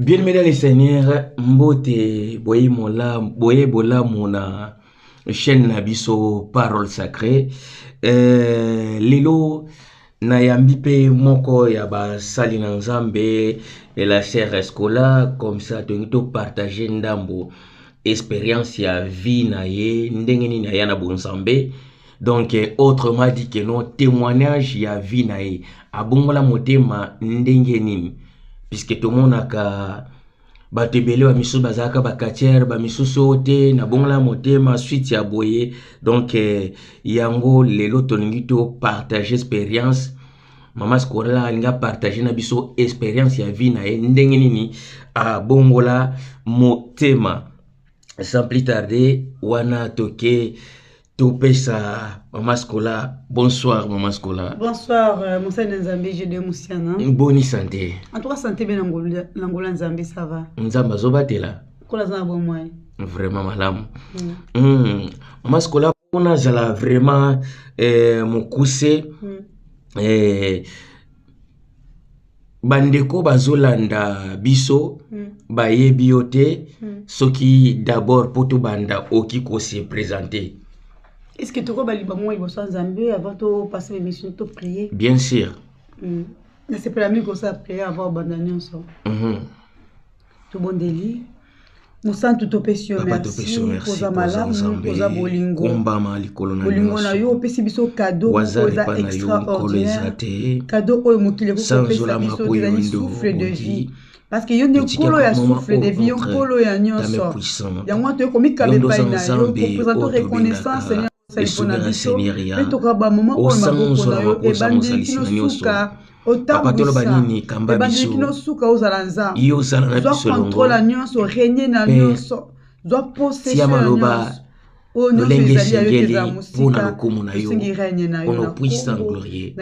bien aimé dans le seigneur mbote boye mola boye bolamu na chaîne na biso parole sacrée euh, lelo Nayambi mpe moko ya basali na Nzambe de la Serre Escola, comme ça tolingi to partager ndambo experience ya vie na ye ndenge nini aya na bonzambe donc autrement dit que non témoignage ya vie na ye abongola motema ndenge nini puisque tomonaka bato ebele bamisusu bazalaka bacatiere bamisusu oyo te nabongola motema suite ya boye donc eh, yango lelo tolingi topartage experience mama scorela alingi apartage na biso experience ya vie na ye ndenge nini abongola motema sans plus tarde wana toke topesa mama scola bonsoir mama scola bonsoir euh, mosali na nzambe jede mosiana boni sante antuka sante be na ngola nzambe sava nzambe azobatela kola aza na bomoi vraiment malamu mm. mm. mama scola mpona azala vraiment eh, mokuse mm. eh, bandeko bazolanda biso mm. bayebi yo te mm. soki d'abord mpo tobanda oki kose présente estce tokoba libango mwa liboso ya nzambe avant topase bemission to prie bien sûr mm. nasepela mingi kosala priere avant obanda nyonso mm -hmm. tobondeli mosantu topesi yo mercioza malamu oza bolingo bolingo na yo opesi biso kado oza extraordinaire kado oyo mokili ekoki kopesa biso ezali souffle de vie parce que yo nde nkolo ya souffle de vie yo nkolo ya nyonso yango wana toyei komikaba epai na yo kopresente reconnaissance esobe na seigneur ya osanzo na bakosa mozalisi na nyonso papa toloba nini kamba biso yo ozala na biso elongo mpe tia maloba lolenge esengeli mpo na lokumu na yo ono puissant glorieux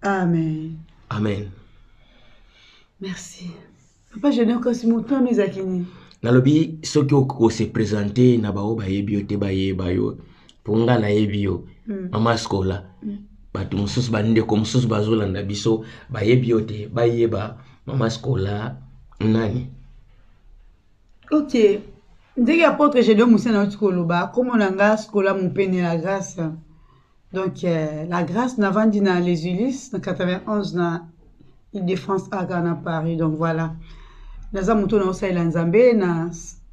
amen amen merci papa junior kasi motu wana ezalaki nini nalobi soki okose presente na baoyo bayebi yo te bayeba yo mpo nga nayebi yo mm. mama skola mm. bato mosusu bandeko mosusu bazolanda biso bayebi yo te bayeba mama skola nani ok ndenge apotre gedeon mosana auti koloba komona nga skola mopene la grâce Donc, euh, la grâce n'a vendu dans les Ulysses, dans 91, dans île de France, à Ghana, Paris. Donc voilà. Naza muto na osa ila nzambe, na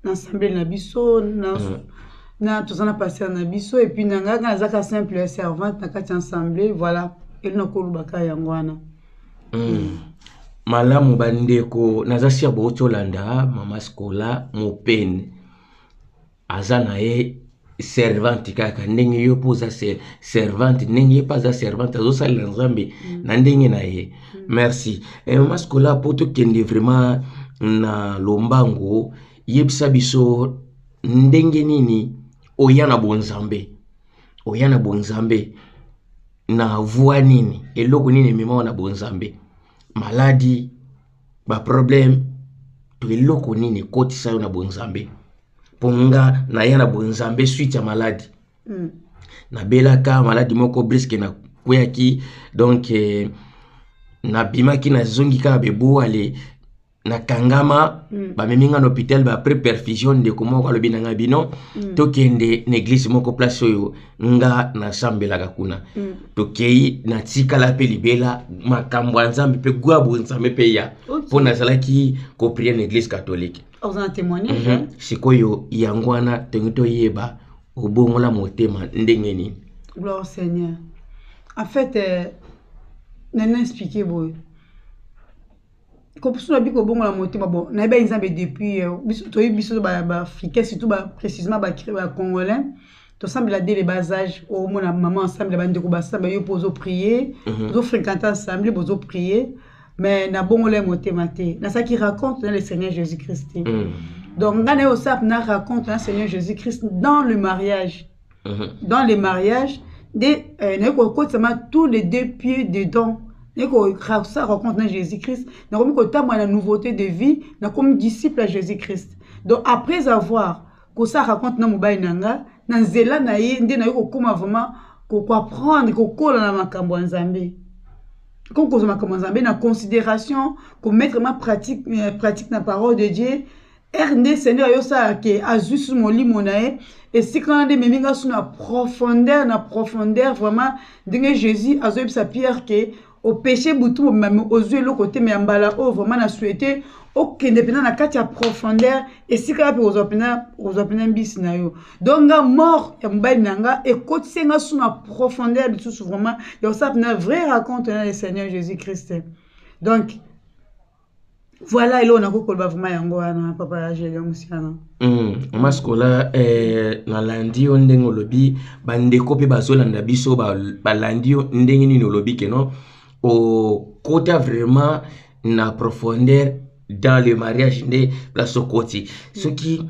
ensemble na biso, na euh. na tozana passer na biso et puis nanga naza ka simple servante na kati ensemble, voilà. Et na kolubaka yango wana. Mm. malamu bandeko naza sir bouti olanda mama scola mopene aza na ye servante kaka ndenge yo mpo oza servante ndenge ye mpe aza servante azosalela nzambe mm. na ndenge na ye mm. merci eh, mama sikola mpo tokende vraiment na lombango yebisa biso ndenge nini oya na bonzambe oya na bonzambe na voi nini eloko nini ememaka na bonzambe maladi baproblème to eloko nini ekotisa yo na bonzambe mpo nga naya na bonzambe suite ya maladi mm. nabelaka maladi moko briske nakweyaki donk eh, nabimaki nazongi kaka bebuale nakangama mm. bamemi nga na hôpital ba après perfusion ndeko moko alobi na ngai bino mm. tokende na eglise moko place oyo nga nasambelaka kuna mm. tokei natikala mpe libela makambo ya nzambe mpe gwa bonzambe mpe ya mpo okay. nazalaki koprie na eglise katolike mm -hmm. sikoyo yango wana tongi toyeba obongola motema ndenge nini gloire seigneur en fait euh, nana explike boye kopusuna obi kobongola motema bon nayebaki nzambe depuis euh, biso toyebi biso baafricain surtout précisement bacongolais tosambela dele basage omona mama asambela bandeko basamba yo mpo ozopriye mhm. ozofréquente ensemble bozopriye mais nabongola ye motema te nasalaki raconte na le seigneur jésus christ te mhm. donc ngai naye osap na raconte na seigneur jésus christ dans le mariage mhm. dans le mariage nde euh, naye kokotisama tous les deux pieds dedans naye kosa rencontre na jésus christ nakomi kotambola na nouveauté de vie nakomi disciple ya jésus christ donc après avoir kosa rencontre na mobali na nga na nzela na ye nde naye kokóma vraiment koapprendre kokola na makambo ya nzambe comme kozwa makambo ya nzambe na considération komettre ma pratique, euh, pratique na parole de dieu ere nde seigneur ayosala ke azwi su molimo na ye esika wana nde ememi nga su na profondeur na profondeur vraiment ndenge jésus azoyebisa pierre ke opeche butu mobimba me ozwi eloko te me ya mbala oyo vraiment na souhaite okende mpenza na kati ya profondeur esika wapi ozwa mpenza mbisi na yo donc nga mort ya mobali na nga ekotisi nga su na profondeur lisusu vraiment ya kosala mpenza vrai raconte na le seigneur jésus christ donc voilà eloko nakoki koloba vraimen yango wana papa ya gelio mosiana hmm, mama sikola eh, nalandi yo ndenge olobi bandeko mpe bazolanda biso balandi yo ndenge nini olobi keno okota vraiment na profondeur dans le mariage nde place okoti soki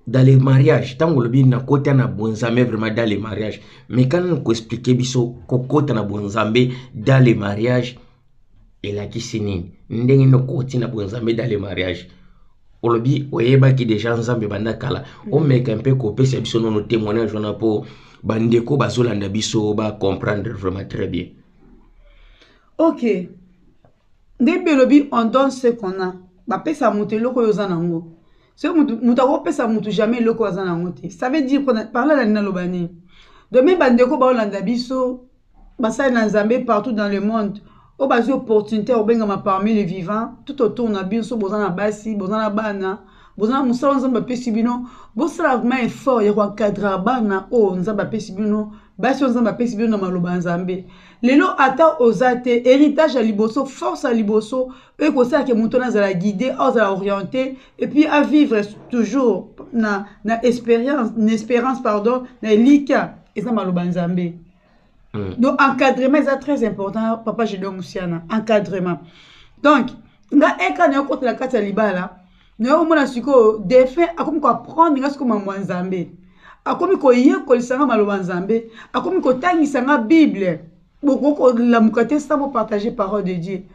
dans le mariage ntango olobi nakota na bonzambe vraiment dans le mariage mais kana koexplike biso kokota na bonzambe dans le mariage elakisi nini ndenge nini okoti na bonzambe dans le mariage olobi oyebaki deja nzambe banda kala mm. omeka mpe kopesa biso nono témoignage wana mpo bandeko bazolanda biso ba comprendre vraiment très bien ok nde mpe elobi on donne ce qu'on a bapesa moto eloko oyo oza nango soki moto akopesa moto jamais eloko oyo aza nango te ça veut dire parla na naloba nini domi bandeko baolanda biso basali na nzambe partout dans le monde oyo bazwi opportunité ya kobengama parmi le vivant tout autour na binso boza na basi boza na bana boza na mosala oyo nzambe apesi bino bosala vraimen effort ya koencadrer bana oyo nzambe apesi bino basi oyo nzambe apesi bino na maloba ya nzambe lelo ata oza te héritage ya liboso force ya liboso oyo ekosala ke moto wana azala guide oyo azala orienté epuis avivre toujours na, na, expérience, na espérance pardon na elika eza maloba ya nzambe mm. donc encadrement eza très important papa jidon musiana encadrement donc nga eka na yo kota na kati ya libala na yo omona sikoyo defin akomi koapprendre nga sikoyo mambo ya nzambe akomi koyekolisa nga maloba nzambe akomi kotangisa nga bible bokoki kolamuka te sans bopartage parole de dieu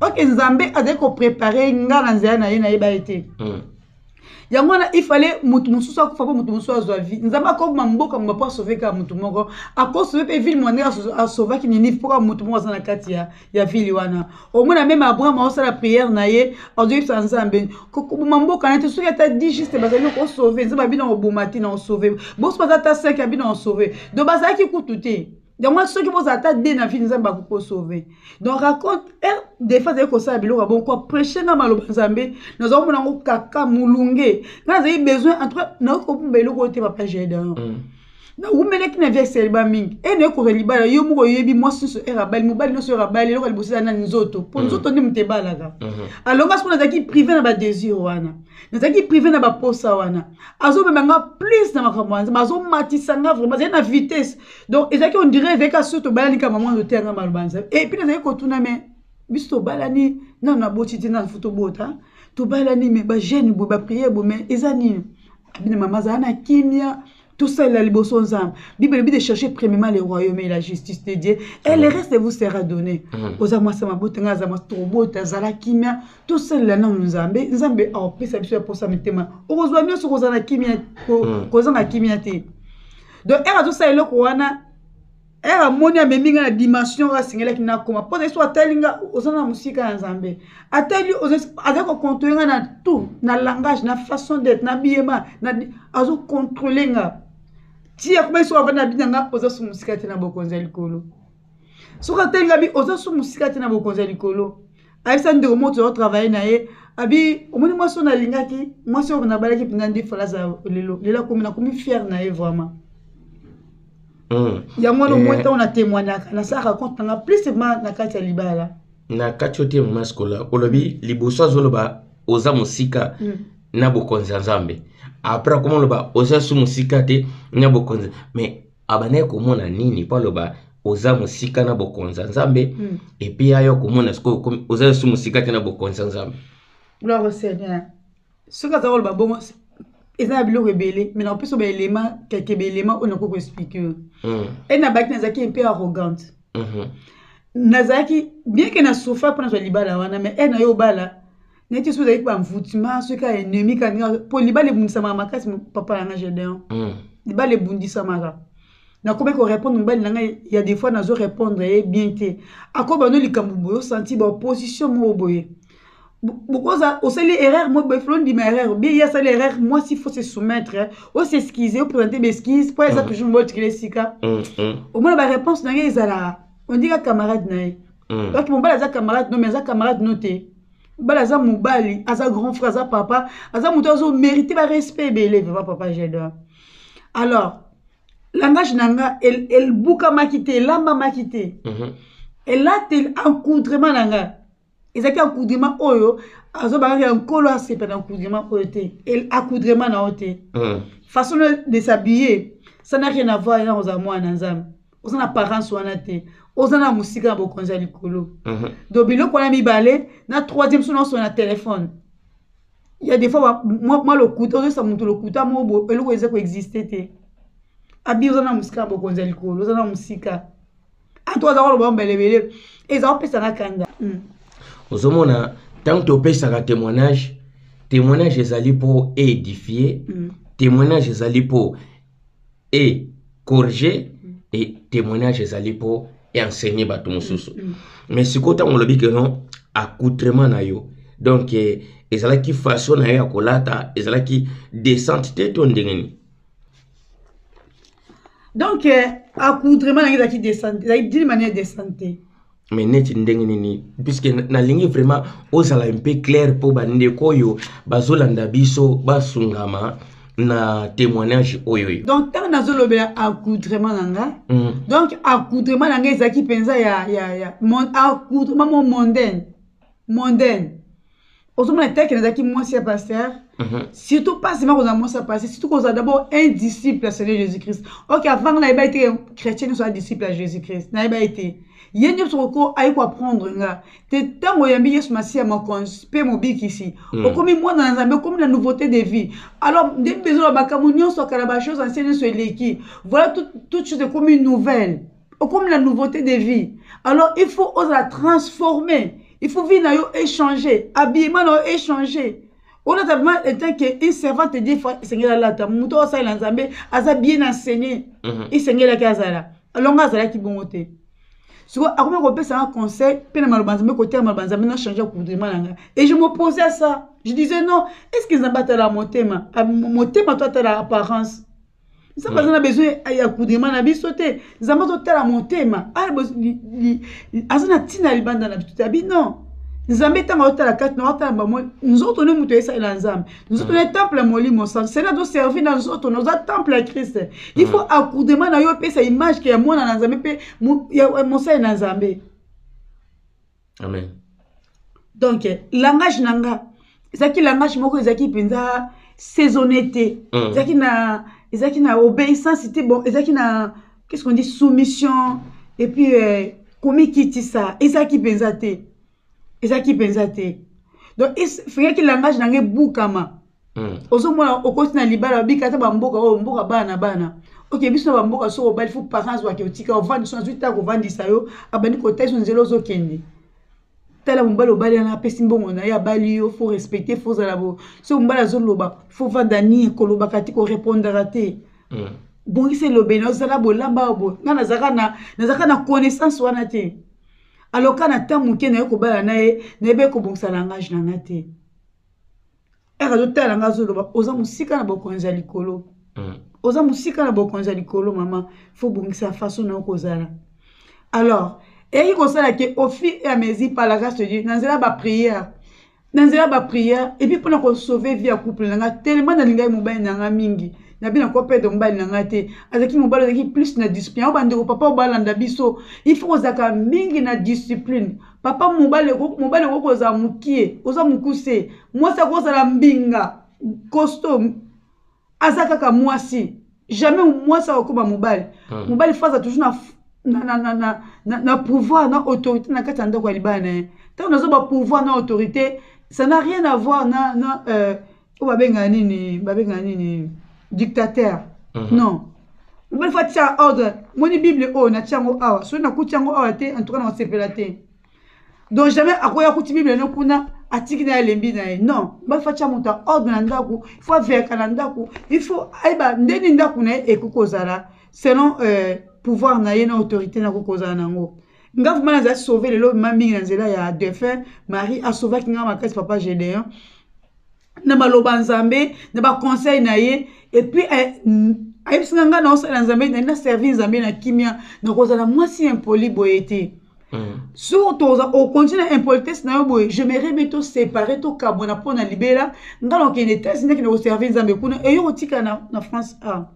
ok nzambe azali koprepare nga na nzela na ye nayeba ye te mm. yango wana ifale motu mosusu akufa mpo motu mosusu azwa vie nzambe akobima mboka moba mpo asove kaka motu moko akosove mpe ville mwana ndenge asovaki ninive mpo kaka motu moko aza na kati ya, ya ville wana omona meme abraham aosala priere na ye azoyebisa nzambe koboma mboka na te soki ata di juste bazali kosove nzambe abina koboma te na osove boso baza ata 5 abina kosove donc bazalaki kutu te yango wana soki bozala ata de na vie nzambe akoki kosauve donc raconte eh, defa azali kosala biloko ya bon ko prêche nga maloba nzambe nazali komona yango kaka molunge nga nazali besoin en tout cas nayoki kobumba eloko oyo te papa gedeon mm. nawumelaki na vie eseliba mingi e naye kozwa libala yo moko oyebi mwasi nyonso ere abali mobali nyonso ere abali eloko liboso eza na nzoto mpo mm. nzoto nde moto ebalaka mm-hmm. alonga soko nazalaki prive na badésir wana nazalaki prive na baposa wana azomema nga plus na makambo wana azomatisa nga vraimen azali na vitesse donc ezalaki ondire ezalaki kaka soki tobalani kaka mama ote yanga maloba na nzambe epuis nazalaki kotuna me biso tobalani nano naboti te nano fo tobota tobalani me bajeune boye bapriere boye me eza nini abina mama azala na kimia tosalela liboso nzambe bible elobi de chercher premièrement le royaume et la justice de dieu et le reste vous sera donné mhm. oza mwasi ya mabota ngai aza mwasi tobota azala kimia tosalela nano nzambe nzambe akopesa biso ya posa mitema okozwa nyonso kozala kimia mhm. kozanga kimia te donc ere azosala eloko wana ere amoni amemi ngai na dimension oyo asengelaki nakoma mpo na so atali nga oza na mosika ya nzambe atali aza kocontrole ngai na tout na langage na façon d'être na biyema azocontrole nga ti akomaki soko avandi na bina nga oza so mosika te na bokonzi ya likolo soki atali ngabi oza su mosika te na bokonzi ya likolo ayebisa ndeko moko tozo travaille na ye abi omoni mwasi oyo nalingaki mwasi oyo nabalaki mpenza nde falaza lelo lelo akomi nakomi fiere na ye vraiment hmm. yango wana omoi ntango eh. na témoignaka nasalaka compte nanga plus ma na kati ya libala na kati yo te mama sikola olobi liboso azoloba oza mosika hmm. na bokonzi ya nzambe après akoma oloba oza su mosika te na bokonzi mais abandaki komona nini mpo aloba oza mosika na bokonzi ya nzambe mm. epi ya yo komona sikoyo oza lisusu mosika te na bokonzi ya nzambe gloire au seigneur soki aza koloba bongo eza na biloko ebele mai nakopesa baelema keke baelema oyo nakoki koexplike yo hmm. e nabaki nazalaki mpe arrogante mhm. nazalaki bien ke na sofa mpo nazwa libala wana mai e na yo obala neti soki ozalaki banvoutement soki ya ennemi kani mpo libala ebundisamaka makasi papa na nga gedeon hmm. libala ebundisamaka nakomaki korépondre mobali na ngai ya des fois nazo répondre ye bien te akoba no likambo boye osanti baopposition moko boye bokoza osali erreur mo boye flo ndima erreur bien ye asali erreur mwasi faut se soumettre ose excuse opresente baexcuse mpo eza hmm. toujours mbotikela esika hmm, omona baréponse na ngai ezalaka ondika camarade na ye mm. donc mobali aza camarade no mais aza camarade no te mobali aza mobali aza grand frère aza papa aza moto azo mérite barespect ebele vraiment papa jador alors langage na nga ebukamaki te elambamaki te mm -hmm. elateli encoudrement na nga ezalaki encoudrement oyo azobangaki ya nkolo asepa na encoudrement oyo te accoudrement na yo te mm. façon de s'habiller ça n'a rien à voir eza kozala mwana na nzambe oza na parence wana te oza na mosika ya bokonzi ya likolo mhm. donc biloko wana mibale na troisième so naoso na telefone ya des fois mwa lokuta ozoyesa moto lokuta moko eloko eza koexiste te abi oza na mosika ya bokonzi ya likolo oza na mosika ato aza koloba mbelebele eza kopesa na kanda hmm. ozomona ntango topesaka témoignage témoignage ezali mpo édifie hmm. témoignage ezali mpo et corriger mm. et témoignage ezali pour enseigner bato mosusu mm, mm. mais sikoyo ntango olobi ke non accoutrement na yo donc eh, ezalaki façon na yo ya kolata ezalaki descente te to ndenge nini donc eh, accoutrement na yo ezalaki descente ezalaki d'une manière descente te mais neti ndenge nini puisque nalingi vraiment ozala mpe claire mpo bandeko oyo bazolanda biso basungama na témoignage oyo yo donc ntango nazolobela accoutrement na nga mm. donc accoutrement na nga ezalaki mpenza ya, ya, ya mon, accoutrement mo mondaine mondaine ozomona teke nazalaki mwasi ya paster mhm. surtout mpasi makozala mwasi ya paster surtout kozala d'abord un disciple ya seigneur jésus christ ok avanga nayeba ye te chrétien nyonso aza disciple ya jésus christ nayeba ye te ye nyonso koko aye koaprendre nga te ntango oyambi yesu masiya mokonzi mpe mobikisi mm. okomi mwana na nzambe okomi na nouveauté de vie alors nde mpenza makambo nyonso akala bachose ancien nyonso eleki voilà toute chose ekomi nouvelle okomi na nouveauté de vie alors il faut ozala transformer il faut vie na yo échanger habillement na yo échanger olata vraiment etant que une servante de fois esengeli alata moto oyo asalela nzambe aza bien enseigné mhm. esengelaki azala alors nga azalaki bongo te siko akomi kopesa nga conseil mpe na maloba nzambe kotela maloba nzambe na change comportement na nga et je m'oppose à ça je disais non est ce que nzambe atalaka motema ah, motema to atalaka apparence nzambe aza na besoin ya kudema na biso te nzambe azotala motema aza na ntina ya libanda na biso te abi non nzambe ntango azotala kati na otala bamo nzoto nde moto esalela nzambe nzoto nde temple ya molimo santu sena azoservi na nzoto na oza temple ya krist il faut akudema na yo epesa image ke ya mwana na nzambe mpe mosali na nzambe amen donc langage na nga ezalaki langage moko ezalaki mpenza saisonne te mm. ezalaki na ezalaki na obéissance te bon ezalaki na qu'est ce qu'on dit soumission et puis euh, komikitisa ezalaki mpenza te ezalaki mpenza te donc fingaki langage na nga ebukama hmm. ozomona okoti na libala obika ata bamboka oyo mboka bana na bana oke biso na bamboka soki obali fo parents wake otika ovandi so azwi ntango kovandisa yo abandi kotali so nzela ozokende tala mobali obali wana apesi mbongo na ye abali yo fo respecte fo ozala bo soki mobali azoloba fo vanda nie kolobaka te korepondaka te hmm. bongisa elobeli na ozala bolamba bo nga nazalaka na connaissance wana te aloka na ntango moke naye kobala na ye nayebi ekobongisa langage na nga te aka azotala nga azoloba oza mosika na bokonzi ya likolo mm. oza mosika na bokonzi ya likolo mama fo bongisa façon na yo kozala alors eyaki kosala ke au fil et à mesure par la grâce de dieu na nzela baprière na nzela baprière epuis mpona kosauve vie ya couple na nga tellement nalingaki mobali na nga mingi na bino ko pede mobali na ngai te azalaki mobali azalaki plus na discipline yango bandeko papa oyo balanda biso il faut kozalaka mingi na discipline papa mobali mobali okoki kozala mokie oza mokuse mwasi akozala mbinga costo aza kaka mwasi jamais mwasi akokoma mobali hmm. mobali faza toujours na na, na, na, na, na, na pouvoir na autorité na kati ya ndako ya libala na ye ntango nazoba pouvoir na autorité ça n'a rien à voir na, na euh, oyo babengaka nini babengaka nini dictateur mm -hmm. non omoni fo atia ordre moni bible oyo natia yango awa soki nakuti yango awa te en tout cas nakosepela te donc jamais akoya kuti bible no kuna atiki na ye alembi na ye non bafa tya moto ya ordre na ndako ifo averka na ndako ifo ayeba nde nini ndako na ye ekoki kozala selon euh, pouvoir na ye na autorité na koki kozala na yango nga vraimen nazali sauve lelo ma mingi na nzela ya defunt marie asauvaki nga makasi papa gédéon na maloba ya nzambe na baconseil na ye epuis eh, ayebisaka ngai naosalela nzambe na naservi nzambe na kimia nakozala mwasi ya impoli boye te mm. so toza okonti na impolitesse na yo boye je me rebe tosepare tokabwana mpo na libela ngai nakokende etats-unis nakende koservi nzambe kuna eyo kotika na, na france a ah.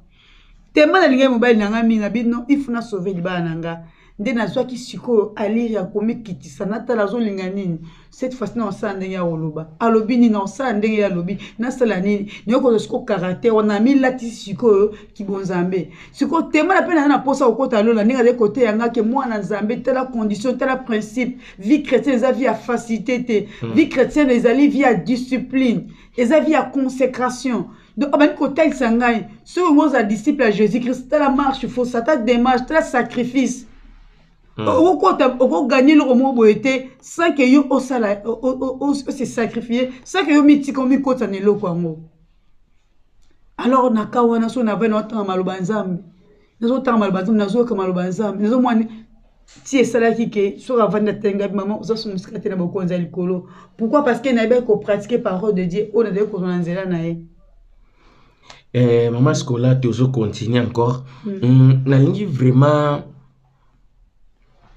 tellement nalingaki mobali na ngai mingi na bino ifu na sauve libala na ngai nde nazwaki sikoyo alire ya komikitisa natala azolinga nini cette fois na osala ndenge ya koloba alobi nini na osala ndenge ya alobi nasala nini naye kozwa sikoyo caractère wana amilatisi sikoyo kibonzambe sikoyo temana mpe naza na mposa kokota lola ndenge azali koteya nga ke mwana nzambe tala condition tala principe vie chrétienne eza vie ya facilité te hmm. vie chrétienne ezali vie ya discipline eza vie ya consécration mm. donc abandi kotalisa ngai soki ngo oza disciple ya jésus christ tala marche fo sata démarche tala sacrifice hmm. okokota okoganye eloko moko boye te sans ke yo osala ose sacrifie sans ke yo mitika omikotisa na eloko yango alors na ka wana so na vai na otanga maloba ya nzambe nazotanga maloba ya nzambe nazoyoka maloba ya nzambe nazomwani ti esalaki ke soki avandi atenga bi mama oza somusika te na bokonzi ya likolo pourquoi parce que nayebaki kopratike parole de dieu oyo nazali kozwa na nzela na ye eh, mama scola tozo continue encore mm. mm, nalingi vraiment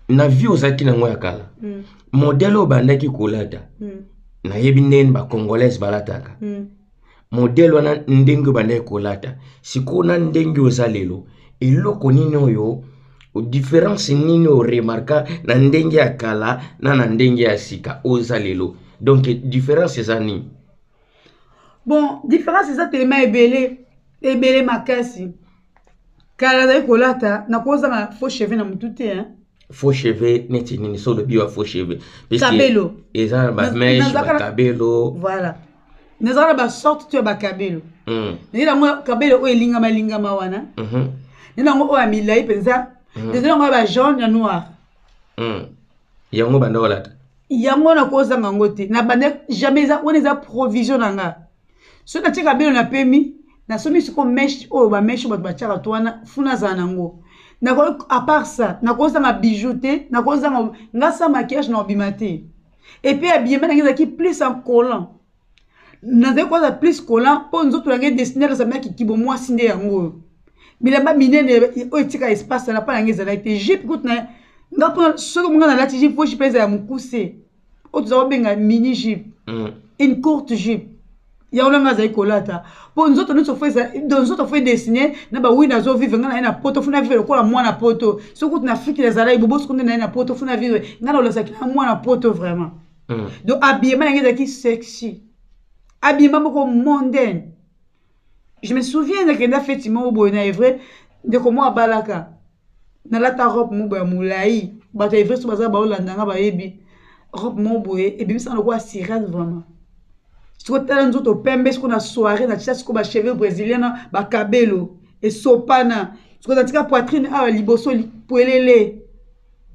na vie ozalaki nango ya kala mm. modele oyo bandaki kolata mm. nayebi ndenge bacongolaise balataka mm. modele wana ndenge oyo bandaki kolata sikoyo na ndenge oza lelo eloko nini oyo difference nini oremarka na ndenge ya kala na na ndenge ya sika oza lelo donc différence eza nini bon différence eza telema ebele ebele makasi kala azali kolata nakozanga faux cheveux na motu te hein? faux cheveux neti nini so olobi wa faux cheveux kabelo eza na bameshe bakabelo voilà nazalaka na basorte to ya bakabelo hmm. naye nango kabelo oyo elingama lingama wana mhm. naye nango oyo ya milai mpenza hmm. ezali yango ya bajaune ya noir hmm. yango banda kolata yango nakozanga yango te na banda jamais eza wana eza provision na nga soki natyaka bino na pemi nasomi siko meshe oyo bameshe bato batyaka to wana funa azala na yango nakoki apart ça nakozanga bijou te nakozanga nga sa maquillage na obima te epuis abiyema nange ezalaki plus en collant nazali koza plus collant mpo nzoto nange dessiner ezalaki kibo mwasi nde yango oyo bilamba minene oyo etika espace na pa nange ezalaki te jipe kutu na nga mpona soki monga nalati jipe po jipe ezala ya mokuse oyo toza kobenga mini jupe mm. une courte jupe yango nanga azali kolata mpo nzoto nyonso fo nzoto fo edesine na bawi nazovivre ngai na ye na poto fo navivre lokola mwana poto soki kutu na afriki nazalaki bobosi kunde na ye na poto fo navivre ngai naolasaki na mwana poto vraiment mm. donc abiyema na ngai ezalaki sexy abiyema moko mondaine je me souviens nakenda feti moko boye na evre ndeko moko abalaka nalata robe moko ya molai bato ya everso baza baolanda nga bayebi robe moko boye ebimisaka lokola sirene vraiment sikoyo tala nzoto pembe sikoyo na soirée natya sikoyo bacheveux brésilien na bakabelo esopana sikoyo natika poitrine awa liboso pwelele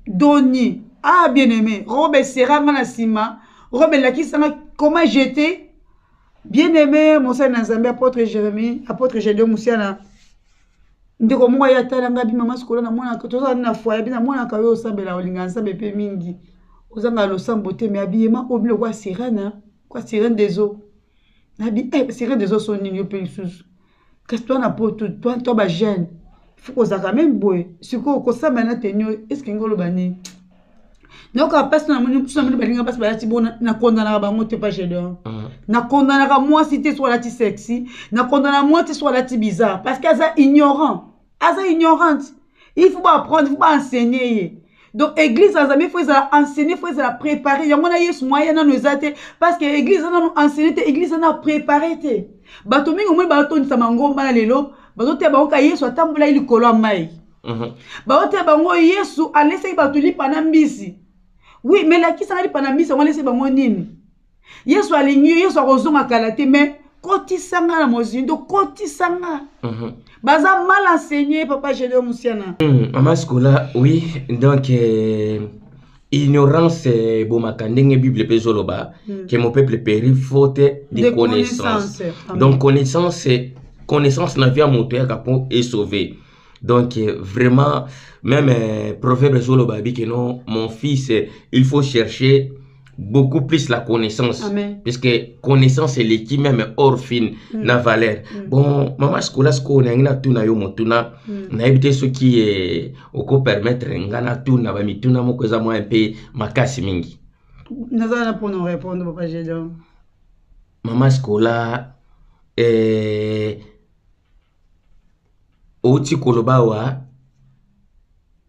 doni ah bien aimé robe esera nga na nsima robe elakisa nga koma jete bien aimé mosali na nzambe apotre jérémie apotre gédeo mosiana ndeko moko aye atala ngai bi mama sikola namonaka tozalani na foye bi namonaka yo osambela olinga nzambe mpe mingi ozanga losambo te me abiyema oyo biloko ya sirene kwa sirene des eaux nabi eh, sirene des eaux so nini yo mpe lisusu kasi twa na poto twa twa bajeune fo kozalaka meme boye sikoyo kosambela na tenio eske ngi oloba nini nayoka mpasi namoni mosusu namoni balinga mpasi balati bo nakondanaka bango te pa gedeon mm. nakondanaka mwasi te so alati sexy nakondana mwasi te so alati bizarre parce que aza ignorant aza ignorante il faut baapprendre il faut baenseigne ye donc église ya nzambe fo ezala enseigne fo ezala prépare yango na yesu mwaya nano eza te parce que église eza nano enseigne te église eza nano prépare te bato mingi omoni baotondisa mangomba na lelo bazoteya bango ka yesu atambolaki likolo ya mai Mhm. baotela bango yesu alesaki bato lipa na mbisi wi me lakisaka lipa na mbisi yango alesaki bango nini yesu alingi yo yesu akozonga kala te me kotisa nga na mozindo kotisa nga mhm. baza mal enseigné papa gédeo musiana mhm. mama sikola oui donc euh, ignorance euh, ebomaka ndenge bible mpe ezoloba mm. ke mon peuple péri faute de, de connaissance, connaissance. donc connaissance connaissance na vie ya moto eyaka mpo esauve donc euh, vraiment même euh, proverbe ezoloba abi que non mon fils euh, il faut chercher beaucoup plus la connaissance Amen. puisque connaissance eleki même orphine mm. na valeur mm. bon mama sikola sikoyo nayangi natuna yo motuna mm. nayebi te soki eh, okopermettre nga natuna bamituna moko eza mwa mpe makasi mingi naza na mpona orépondre papa gédon mama sikola eh, outi koloba awa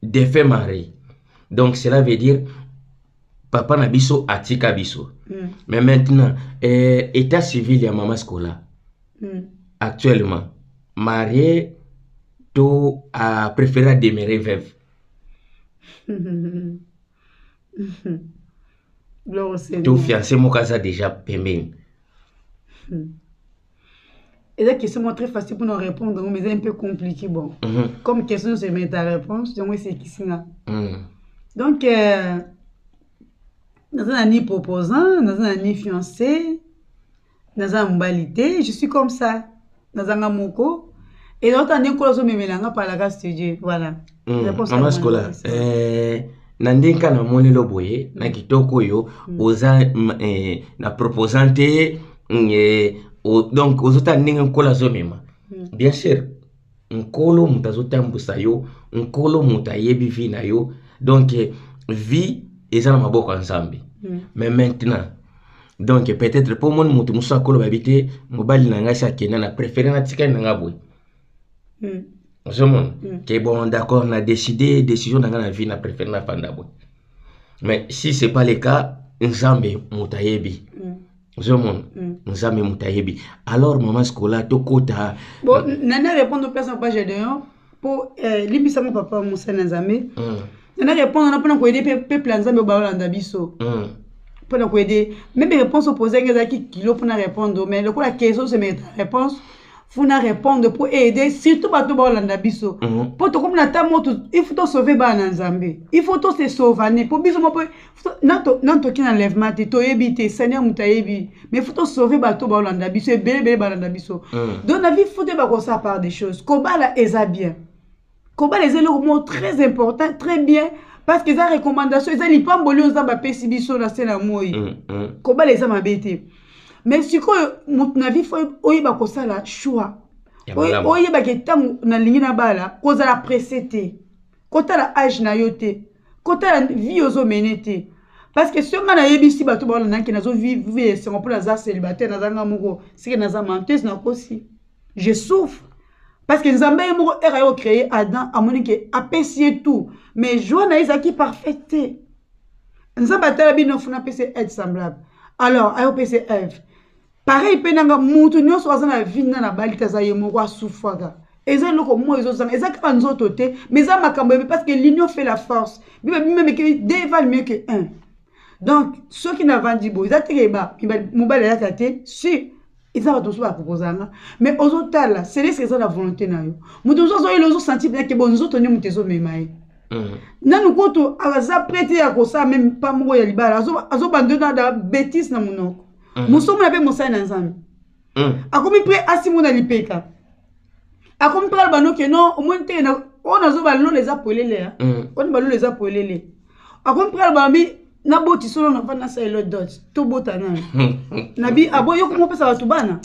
defunt mari donc cela veut dire papa na biso atika biso mm. mais maintenant eh, état civil ya mama scola mm. actuellement marie to a préféré a demeurer veuve to fiancé moko aza déjà pembeni mm. eza question moko très facile mpona orépondre yango mais eza un peu compliqué bon mm -hmm. comme question nyonso emete ta réponse yango esekisi nga mm. donc euh, naza na ni proposant naza na ni fiancé naza na mobali te je suis comme ça naza nga moko eloko tande nkolo azomemela nga palaka studio voilà mama sikola na ndenge kaka namoni lo boye na kitoko oyo mm. oza eh, na proposant te mm, eh, donc ozotala ndenge nkolo azomema mm. bien sûr nkolo moto azotambwisa yo nkolo moto ayebi vie na yo donc eh, vie eza na maboko ya nzambe mais maintenant donc peut-être mpo omoni moto mosusu akoloba yebi te mobali na ngai si akenda na préféré natikali na ngai boye mm. ozomona mm. ke bon d'accord na décide décision na ngai na vie na préfère na fanda boye mais si c'est pas le cas nzambe moto ayebi mm. ozomona mm. nzambe moto ayebi alors mama sikola tokota bon nana répondre au personne pas gedeon mpo eh, limbisanga papa mosali na nzambe mm. nana répondre wana mpona koyede mpe peuple ya nzambe obalolanda biso mm. mpo na koyede meme réponse opose yange ezalaki kilo mpo na répondre mais lokola keso semeta réponse funa repondre mpo aide surtout bato baolanda biso mpo mm -hmm. tokomi na ta moto il faut tosauve bana na nzambe il faut tose sauvane mpo biso moko nano toki na lèvement te toyebi te seigneur moto ayebi mais faut tosauve bato baolanda biso ebele ebele balanda biso mm. donc na vie fute bakosala par des choses kobala eza bien kobala eza eloko moko très important très bien parce que eza recommandation eza lipamboli oyo nzambe apesi biso na se na moi mm, mm. kobala eza mabe te mais sikoyo moto na vie fo oyeba kosala choix oyebaki ntango nalingi nabala kozala presse te kotala age na yo te kotala vie ozomene te parce que soki ngai nayebisi bato baola nake nazovive esengo mpo naza célibataire naza ngai moko seke naza menteuse nakosi je souffre parce que nzambe ye moko ere ayo créer adam amoni ke apesi ye tout mais joie na ye ezalaki parfaite te nzambe atala bino funa apesi aide semblable alors ayo pesi eve pareil mpe nanga motu nyonso aza na vie na nabali te aza ye moko asufaka eza eloko moi ezozanga eza kaka nzoto te mais eza makambo ebe parce que l'union fait la force bible bimemeke deux valent mieux que un donc soki navandi boye eza teke mobali ayaka te si eza bato mosusu baproposa nga mais ozotala celeske eza na volonté na yo moto mosusu azoyela ozosentir bien ke bo nzoto nde moto ezomema ye mm. nanu kutu aza prete ya kosala meme pa moko ya libala azobanda na betise na monoko mm. mosomona mpe mosali na nzambe mm. akomi mpe asimona lipeka akomi mpe aloba noke no omoni te oyo nazoba lola eza polele ya mm. oni balola eza polele akomi mpe aloba bi naboti solo na mfani nasala elo dot tobota nani nabi aboyi yo komopesa bato bana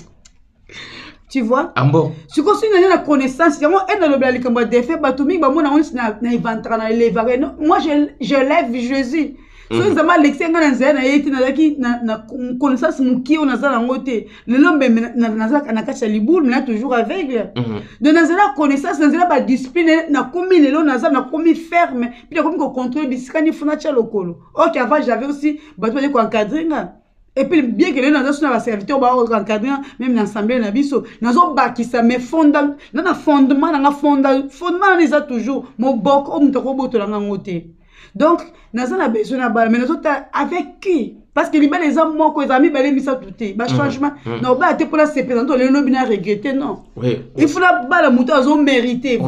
tu vois ambo sikoyo soki naza na connaissance yango ene alobela likambo ya defe bato mingi bamona yango neti na evantaka na elevaka moi je lève jésus soki mhm. nzambe alekisi ngai na nzela na ye te nazalaki na connaissance mokie oyo naza nango te lelo mbembe nazalaka na kati ya libulu mena toujours aveugle mhm. donc nazala connaissance nazala badiscipline nakomi lelo naza nakomi ferme mpe nakomi kocontrole bisika ni funa tya lokolo ok avant j'avais aussi bato bazali koencadre nga epuis bien ke lelo naza so na baserviteur baencadre meme na assemblée na biso nazobakisa mais fonda na na fondement na nga fonda fondement wana eza toujours moboko oyo moto akobotola nga yango te donc naza na besoin na bala mais nazotala avec qui parce que libala eza moko eza mibale misato te bachangement mm, mm. nabala te mpo nasepela nto lelo lobi na regrete non il faut nabala moto azomérite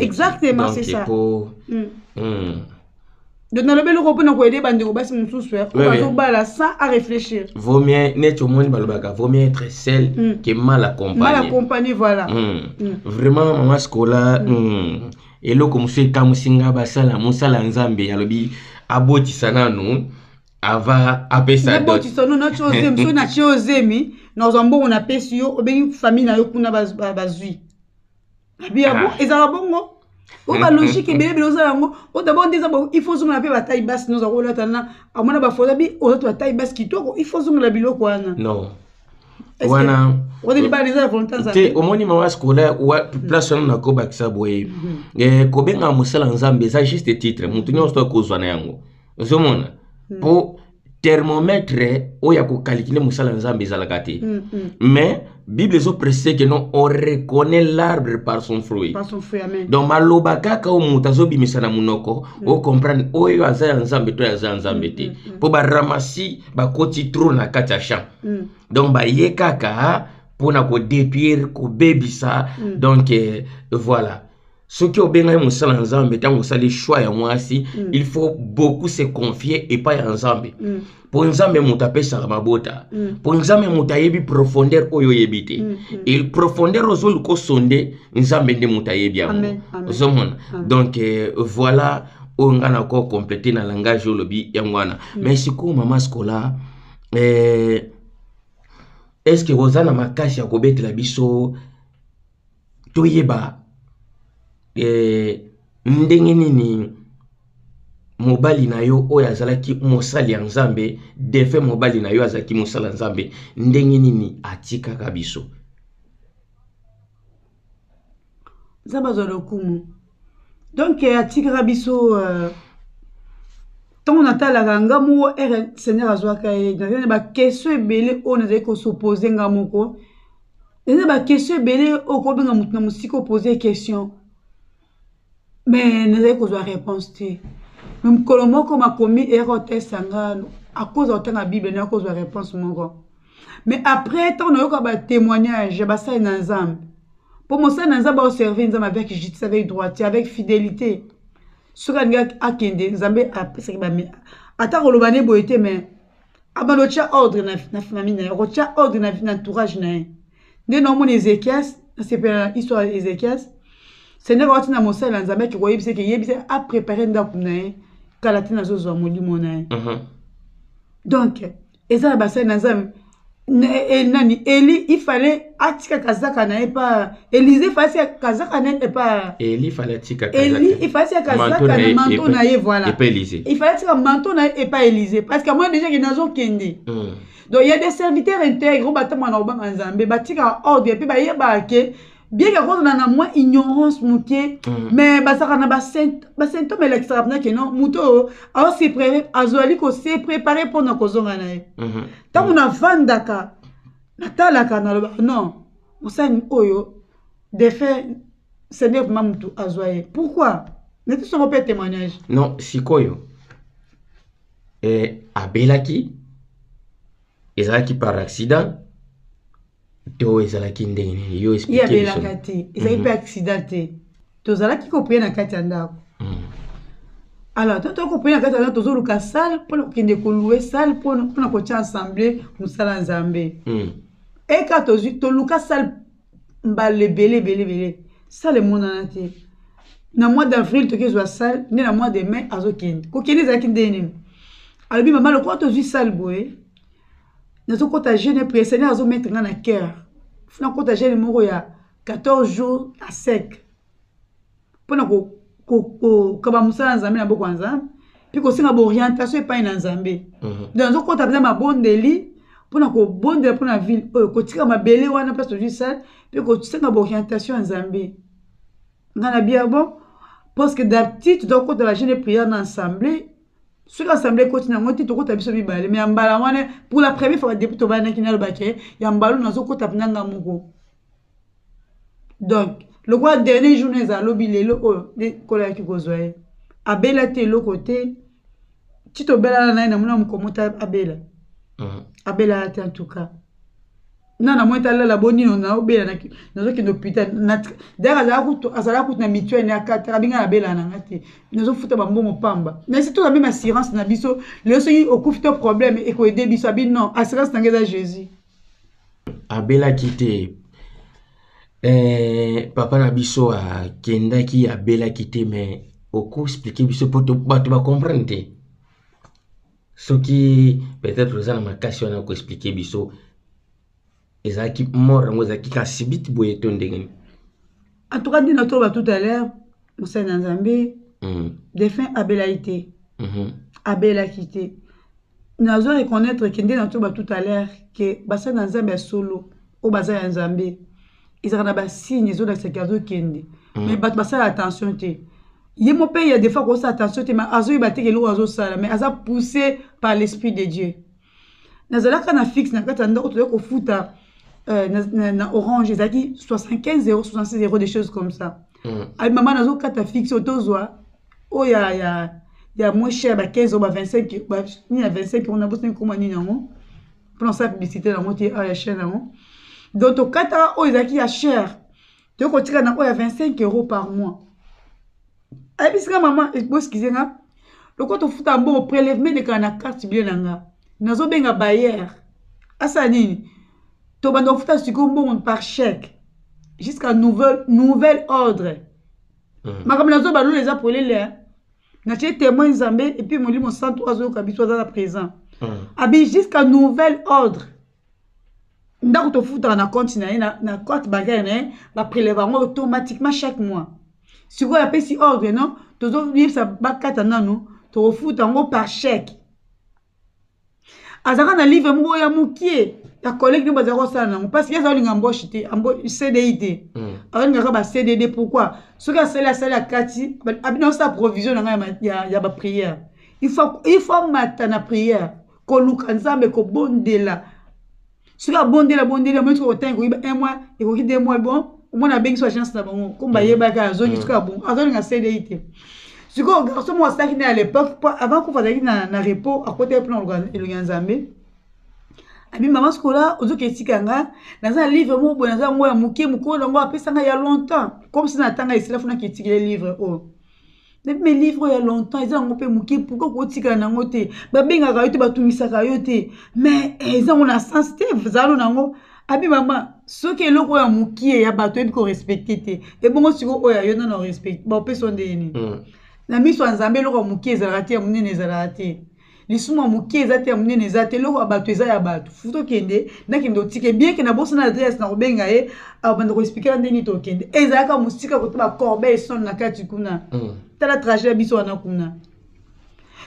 exactement c'est ça mm. donc nalobi eloko mpona koyede bandeko basi mosusu bazobala sans à réfléchir vaut mieux neti omoni balobaka vaut mieux être seul mm. que mal accompagné mal accompagné voilà mm. Mm. vraiment mama scola mm. Mm. eloko mosusu ekamwisi nga basala mosala ya nzambe alobi abotisa nanu ava apesa abotisa no natyo ozemi so natye ozemi nazwa mbongo napesi yo obengi famille na yo kuna bazwi abi abo ah. ezalaka bongo oyo balogique ebele ebele oza yango o dabord nde eza il faut ozongela mpe batai basi noza kolata na amona bafoto bi oza to batai basi kitoko il faut ozongela biloko wana non wana te omoni mama scolaire mm. place wana nakobakisa boye mm-hmm. eh, kobenga mosala nzambe eza juste titre motu nyonso akozwa na yango ozomona mm. po thermomètre oyo ya kokalikile mosala ya nzambe ezalaka te mm-hmm. mais bible ezoprecise ke non on reconnaît l'arbre par son fruit donc maloba kaka oyo moto azobimisa na monoko mm. ocomprendre oyo aza ya nzambe to aza ya nzambe te mpo mm-hmm. baramasi bakoti trop na kati ya champ mm. donc baye kaka mpona kodetruire kobebisa mm. donc eh, voilà soki obengaki mosala ya nzambe ntango osali choix ya mwasi mm. il faut beaucoup se confier epai ya nzambe mm. mpo nzambe moto apesaka mabota mm. mpo mm. nzambe moto ayebi profondeur oyo oyebi te mm. mm. e profondeur ozoluka osonde nzambe nde moto ayebi yango ozomona donc eh, voilà oyo nga na ko complete na langage oyo olobi yango wana mm. mais sikoyo mama scola eh, est ce que oza na makasi ya kobetela biso toyeba eh, ndenge nini mobali na yo oyo azalaki mosali ya nzambe defe mobali na yo azalaki mosali ya nzambe ndenge nini atikaka biso nzambe azwa lokumu donk euh, atikaka biso euh, ntango natalaka nga moko ere seigneur azwaka ye nazali na bakestion ebele oyo nazali kosopose nga moko eza bakestion ebele oyo kobenga moto na mosika opose question mais nazali kozwa réponse te mais mokolo moko makomi eyaka kotesta nga akoza kotanga bible nayaka kozwa réponse moko mais après ntango nayoka batémoignage ya basali na nzambe mpo mosali na nzambe aoservir nzambe avec justice avec droite avec fidélité soki alingi akende nzambe apesaki bame ata koloba nde boye te mais abanda otya ordre na, na famille na ye okotya ordre na, na entourage na ye nde naomona ezekias nasepela na histoire ya ezekias sendeka wati na mosali na nzambe ake koyebisa eke yebisa aprepare ndako na ye kala te nazozwa molimo na ye mhm. donc eza na basali na nzambe e, e, nani eli ifale atika kazaka na ye pa elize fasi ya kazaka na ye pa eli fali atika eli ifasi ya kazaka na manto na ye voilà epa elize ifali atika manto na ye epa elize parce que moi déjà ke nazokende mm. donc il y a des serviteurs intègres oyo batambola na kobanga nzambe batika ordre mpe bayebaka ke bien ke kozala na mwa ignorance moke mm. mais bazalaka na basymptome elakisaka mpena ke non moto oyo aoseprepare azali koseprepare mpo na kozonga na ye ntango mm-hmm. nafandaka natalaka nalobaka non mosani oyo defunt seigneur vrima motu azwa ye pourquoi neti songo mpe témoignage non sikoyo eh, abelaki ezalaki par accident to ezalaki ndenge nini yo explique biso abelaka te ezalaki mpe mhm. accident te tozalaki kopeye na kati ya ndako hmm. alors to toki kopeye na kati ya ndako tozoluka salle mpona kokende kolue salle mpona kotya ensemble mosala ya nzambe hmm. eka tozwi toluka salle mbala ebele ebele ebele salle emonana te na mois d'avril toki ezwa salle nde na mois de mai azokende kokende ezalaki ndenge nini alobi mama lokola tozwi salle boye nazokota jeune presene azometre nga na cœur funa kota jeune moko ya 14 jours à sec mpo na kokaba mosala ya nzambe na boko ya nzambe mpe kosenga baorientation epai na nzambe mhm. donc azokɔta mpenza mabondeli mpo na kobondela mpo na ville oyo kotika mabele wana place ozwi sale mpe kosenga baorientation ya nzambe ngai na bia bon parce que d'habitude toza kokota bagene prière na assemblée soki assemblée ekoti nango te tokota biso mibale mais ya mbala wana pour la première fois depuis tobanaki nalobake ya mbalo nazokota mpenza nga moko donc lokola dernier jour na eza alobi lelo oyo nde nkolo ayaki kozwa ye abela te eloko te ti tobelana na ye namona mokomo ta abela mm. abelaka te antuka na na mwete alala bonino naobela nazokende hôpital dayaka azalaka kutu na mituele na akataka binga nabelaka na nga te nazofuta bambongo pamba mais si toza meme assurance na biso lelo soki okufi to problème ekoede biso abi non assurance na nga eza jésus abelaki te eh, papa na biso akendaki abelaki te me okoexplike biso mpo bato bacomprendre te soki peut-être oza na makasi wana okoexplike biso ezalaki mort yango ezalaki kasibiti boye to ndenge nini en tout cas nde natoloba tout à l'heure mosali na nzambe mm. defin abelaki te mm -hmm. abelaki te nazo reconnaître ke nde natoloba tout à l'heure ke basali na nzambe ya solo oyo baza ya nzambe ezalaka na basigne ezolakisa ke azokende mm. mais bato basala attention te ye mo mpe ya defa kosala attention te mais azoyeba te ke eloko azosala mais aza poussé par l'esprit de dieu nazalaka na fixe na kati ya ndako toyei kofuta euh, na, na, na orange ezalaki 75 euro 66 euro des choses comme ça mm. abi mama nazokata fixe oyo tozwa oyo ya, ya, ya moins cher ba 15 euro ba 25 ba, nini ya 25 euro nabosani koma nini yango mpo na kosala publicité yango te awa ya chaine yango donc tokataka oyo ezalaki ya cher toyei kotika na oyo ya 25 euro par mois ayebisi nga mama eh, boskize nga lokola tofuta mbongo prélèvement elekaka na carte bile na nga nazobenga bayer asala nini tobanda kofuta sikoyo mbongo par chèque jusqu'à nouvel, nouvel ordre mm. makambo nazoba lola eza polele eh. natie témoin nzambe epuis molimo santu azoyoka biso aza na présent mm. abi jusqu'à nouvel ordre ndako tofutaka na compte na ye na compte bancaire na ye bapreleva yango automatiquement chaque mois sikoyo apesi ordre non tozoyebisa bakata nano tokofuta yango par chèque azalaka na livre moko ya mokie ya collègue nde bazalaka kosala nango parce que azaolinga amboche te cdi te hmm. azolingaka ba cdd pourquoi soki asali asali akati abina osala provision na ngai ya baprière il faut amata na prière koluka nzambe kobondela soki abondeli abondeli amoni soki otangi koyiba un mois ekoki deux mois bon omona abengisi agence na bango komba ayebaki azongi soki abongo azolinga cdi te sikoyo garçon moko asalaki naye à l'époque po avant kufa azalaki na, na repos akotaki mpona koluka elongi ya nzambe abi mama sikola ozoki etika nga naza na livre moko boye naza yango ya moke mokolo nango apesa nga ya longtemps comme si natanga esila funa kitikile livre oyo oh. nayebi me livre oyo ya longtemps eza yango mpe moke pourkoi kotikala na yango te babengaka yo te batungisaka yo te me eh, eza yango na sens te zalo na yango abi mama soki eloko oyo ya mokie ya bato oyebi korespecte te ebongo siko oyo ya yo nano orespecte baopesa yo ndenge nini hmm. na miso ya nzambe eloko ya mokie ezalaka te ya monene ezalaka te lisumu ya moke eza te ya monene eza te eloko ya bato eza ya bato futa okende nakende otike bien ke nabosana adresse na kobenga ye abanda koexplikela nde nini tokende ezalaka mosika kota bacorbeil sonne na kati kuna mm. tala trajet ya biso wana kuna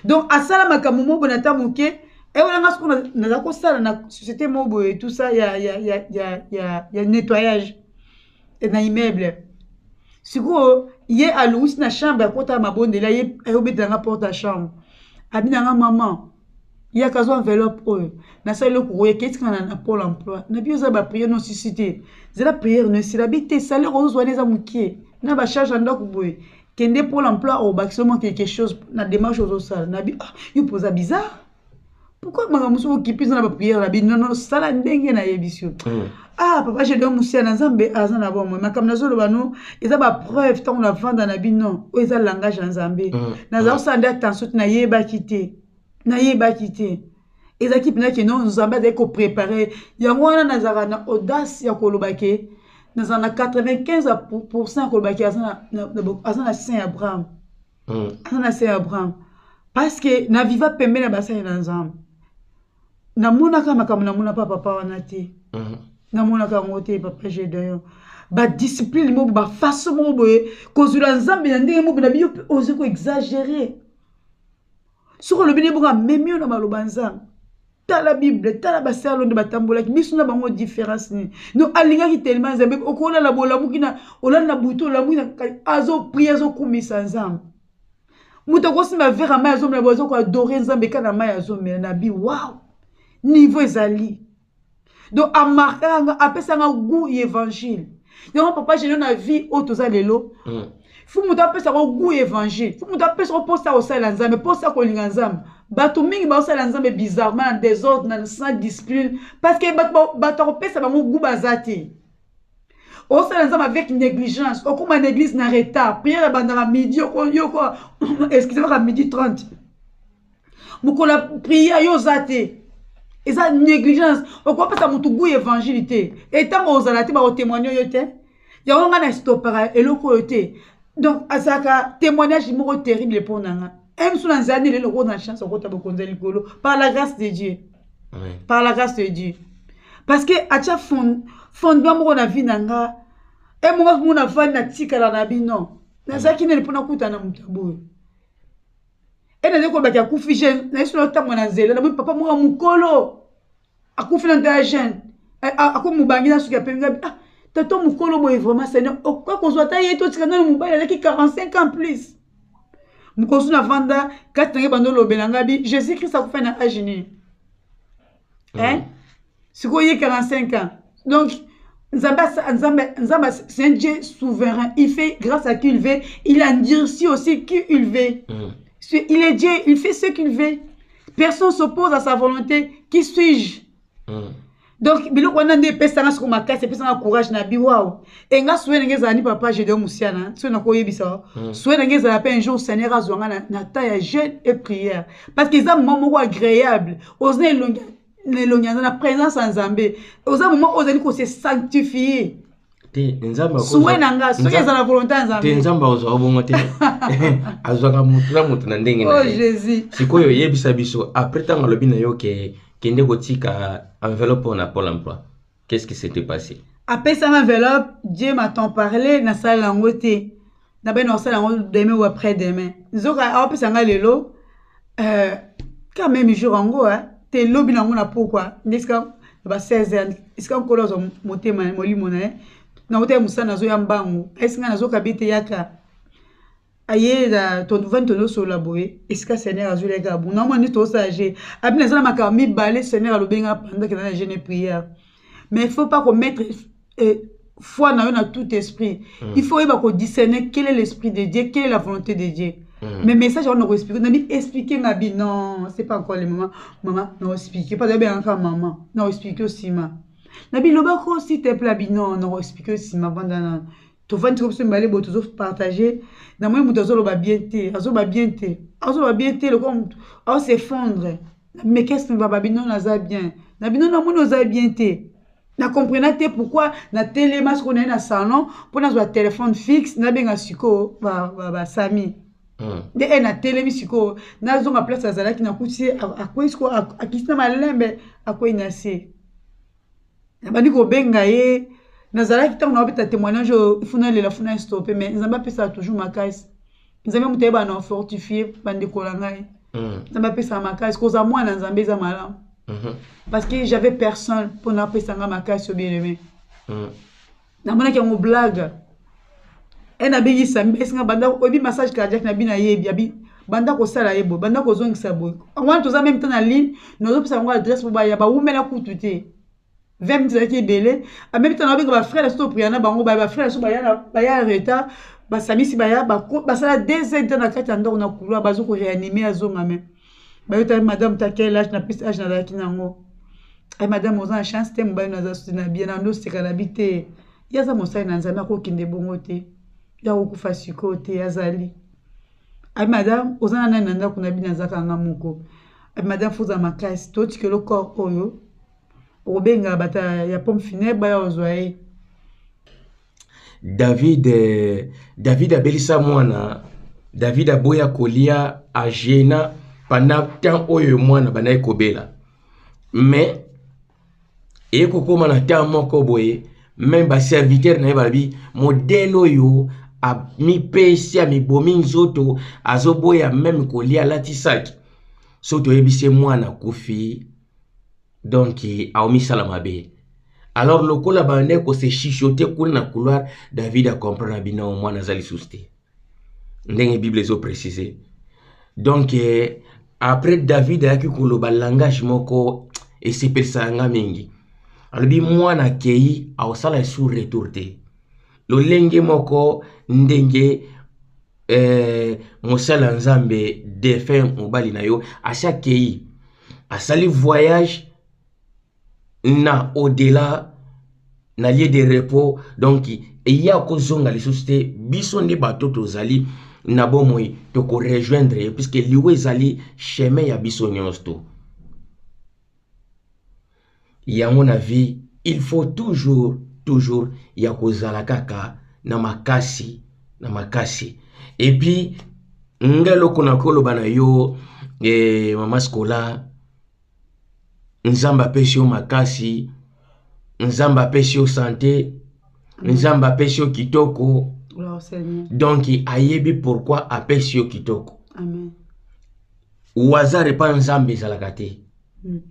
donc asala makambo moko boye na ta moke ewana nga soko naza kosala na société moko boye tout ça ya, ya, ya, ya, ya, ya nettoyage e na immeuble sikoyo ye alongisi na chambre akota mabondela ye ayobetela nga porte ya chambre abina nga maman yaka azwa enveloppe oyo nasali eloko oyo eketika na pole emploi na bino eza bapriere nosisi te zela priere no esila bi te salere ozozwa wana eza mokie na bacharge ya ndako boye kende pole emploi obakisa omwa quelque chose na démarche ozosala na bi ah, yo mpoza bizarre pourquoi makambo mosusu okipi eza na bapriere na bino nono sala ndenge nayebisi yo hmm. ah papa jedon mosia na nzambe aza na bomoi makambo nazoloba no eza bapreuve ntango navanda na bino oyo eza langage ya nzambe hmm. naza kosala hmm. nde attention te nayebaki te nayebaki te ezalaki mpena ke no nzambe azali koprepare yango wana nazalaka na audace ya koloba ke nazala na 95 pourcent ya koloba ke aza na saint abraham mm. aza na se ya abraham parce que na viva pembe na basali na nzambe namonaka makambo namona pa papa wana te mm. namonaka yango te papa gedeon badiscipline moko bafaso moko boye kozwela nzambe na ndenge moko na biyo mpe ozi koexagere soki olobi nde bongo amemi yo na maloba nzambe tala bible tala basalo nde batambolaki biso na bango différence nini no alingaki telema nzambe okolala bolamuki na olala na butu olamuki na azoprie azokumisa nzambe moto akosimba vere ya mai azomela bo azokoadore nzambe kaka na mai azomela na bi wow niveau ezali donc amarkaka nga apesanga gout ya évangile yango papa geno na vie oyo toza lelo mm. fo moto apesaka gout ya évangile fo moto apesaka mposa kosalela nzambe mposa kolinga nzambe bato mingi baosala nzambe bizarrement na desordre na sans discipline parce que bato akopesa bango gu baza te osala nzambe avec négligence okóma na église na retard prière ebandaka midi yoko excusez maka midi 30 mokolo ya prière yo oza te eza négligence okopesa motu gui évangile te etango ozala te bakotémoigne yo te yango ngai na estopaka eloko oyo te donc azalaka témoignage moko terrible mpo na nga emsu na nzela nini eloko na chance okota bokonzi ya likolo par la grâce de dieu Amen. par la grâce de dieu parce que atya fond, fondement moko na vie na nga emoko mona vandi natikala na bino nazalaki nini mpo nakutana na moto ya boye e nazali kolobaki akufi jeune nayesolo atambola na nzela namoni papa moko ya mokolo akufi na nzela ya jeune eh, akomi mobangi na suki ya pembe ngabi ah tata mokolo boye vraiment seigneur okoki kozwa ata ye totika nano mobali alaki 45 ans plus mokosu na vanda kati na ye bando olobela ngabi jésus christ akufa na age nini mm. hein sikoyo ye 45 ans donc Nzamba, Nzamba, Nzamba c'est un Dieu souverain. Il fait grâce à qui il veut. Il endurcit aussi qui il veut. Mm. Il est Dieu, il fait ce qu'il veut. Personne s'oppose à sa volonté. Qui suis-je mm. donc biloko wana nde epesanga soko makasi epesanga courage na bi wao e nga sue ndenge ezala ni papa jedeo mosiana soki nakoyebisa mm. sue ndenge ezala mpe un jour seigneur azwa nga na, na temps ya jeune et prière parce que eza moment moko agréable oza na elongi na elongi aza na présence ya nzambe oza moma ozali kose sanctifie te nzambe suwe na nga soki eza na volonté ya nzambe te nzambe akozwa bongo te azwaka motu na motu na ndenge na oh, ye sikoyo oyebisa biso après ntango alobi na yo ke kende kotika enveloppe mpona pole emploi Qu'est-ce qui s'était passé? Apesa ma enveloppe, Dieu m'a tant parlé, na sala yango te. Na bana osala yango demain ou après demain. Nzoka apesa nga lelo euh quand même jour yango hein, te lobi nango na pokwa. Ndesika ba 16 ans, esika nkolo azo motema molimo na ye. Na uta musana zo ya mbangu. Esinga nazo kabite yaka. aye na tovandi tozosolola boye esika seigneur azweli yaka abuna omona nde tozosala je abi naza na makambo mibale seigneur alobi nga panda kenda na jeune prière mais il faut pas komettre eh, foi na yo na tout esprit mm. il faut oyeba kodiscerne quel est l'esprit de dieu quelle est la volonté de dieu Mm. mais message yango nakoexplike nabi explike nga bi non c'est pas encore le moment mama naoexplike mpo azabi yangaka mama naoexplike osima nabi loba ko si te pla bi non naoexplike osima vanda na tovandi ko biso mibale boye tozo partage namoni moto azoloba bien te azoloba bien te azoloba bien te lokola moto aosefondre mais qu'est-ce que baba bino naza bien na bino namoni oza bien te na comprena te pourquoi na telema sikoyo naye na salon mpo nazwa telefone fixe nabenga sikoyo basami ba, ba Hmm. nde e natelemi sikoyo nazonga place azalaki nakuti ye akwei sikoyo akiti na malembe akwei na se nabandi kobenga ye nazalaki ntango na bapeta témoignage oyo funa elela funa estope mais nzambe apesaka toujours makasi nzambe moto ayeba na fortifie bandeko na ngai mm. nzambe apesaka makasi kozala mwana nzambe eza malamu mm-hmm. parce que j'avais personne mpo napesa ngai makasi obielemai mm. namonaki yango blague ena abengi sami esi nga banda oyebi massage cardiaque na bino ayebi abi banda kosala ye boye banda kozongisa boye wana toza meme te na ligne nazopesa yango adresse po baya bawumela kutu te 20 minutes ezalaki ebele amemi ntango abenga bafrere so topriya na bango baya bafrere so baya retard basamisi baya basala deux heures de na kati ya ndako na couloir bazo koreanime azonga meme bayotaki madame ta quel age na pesi age nazalaki na yango ay madame oza na chance te mobali naza susi na bien nando oseka na bi te ye aza mosali na nzambe akokende bongo te ye akokufa sikoyo te azali ay madame oza na nani na ndako na bino azaka nga moko ay madame foza makasi totikelo corps oyo okobenga bata ya pomme funèbre baya ozwa ye David, eh, David abelisa mwana, David aboya kolia agena pendant temps oyo mwana bandaki kobela. Mais eye kokoma na temps moko boye, meme baserviteur na ye balobi modele oyo amipesi amibomi nzoto azoboya meme kolia alati saki so toyebisi ye mwana akufi donc aomisala mabe alors lokola bandai kose chichote kuna na couloir david acomprendre na bino mwana aza lisusu te ndenge bible ezo précise donc eh, après david ayaki koloba langage moko esepelisa nga mingi alobi mwana akei aosala esu retour te lolenge moko ndenge eh, mosala nzambe defunt mobali na yo asi akei asali voyage na au-delà na lieu de repos donc eye akozonga lisusu te biso nde bato tozali na bomoi tokorejoindre ye puiske liwa ezali chemin ya biso nyonso to Yango na vie il faut toujours toujours ya kozala kaka na makasi na makasi et puis nga eloko nakoloba na yo eh, mama scola nzambe apesi yo makasi nzambe apesi yo sante nzambe apesi yo kitoko donc ayebi pourkui apesi yo kitoko wazare mpa nzambe ezalaka te mm.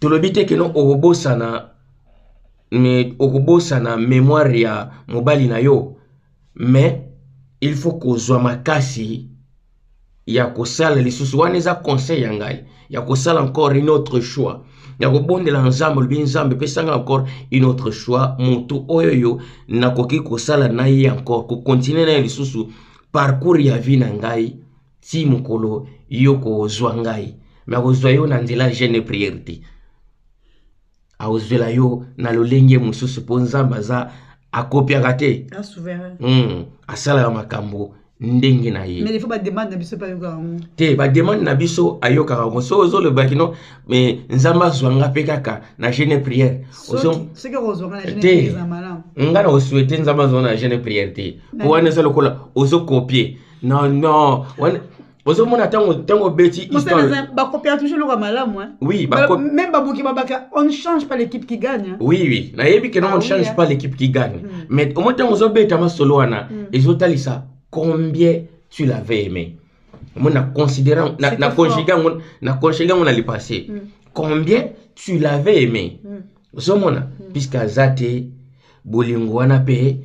tolobi te keno okobosana me okobosana memoire ya mobali na yo mais il faut kozwa makasi ya kosala lisusu wana eza conseil ya ngai ya kosala encore une autre choix ya kobondela nzambe olobi nzambe epesanga encore une autre choix motu oyo yo nakoki kosala na ye encore kokontinue na ye lisusu parcours ya vie na ngai ti mokolo yo kozwa ngai me akozwa yo na nzela jeune priere te akozwela yo na lolenge mosusu mpo nzambe aza akopiaka te hmm, asalaka makambo ndenge na ye te bademande na biso ayokaka yango soki ozoloba kino me nzambe azwa nga mpe kaka na jeune priere te ngai na kosuete nzambe azwa na jeune priere te mpo wana eza lokola ozokopie non non wana ozomona ntango ntango obeti bakopiaka toujours eloko ya malamu oui même babuki babaka on change pas l'équipe qui gagne oui oui nayebi kena ah on change pas l'équipe qui gagne hmm. mais omoi ntango ozobeta masolo wana hmm. ezotalisa combien tu l'avais aimé omoi na considérant na conjugue yango na conjugue yango na le passé hmm. combien tu l'avais aimé ozomona hmm. puisque aza te bolingo wana mpe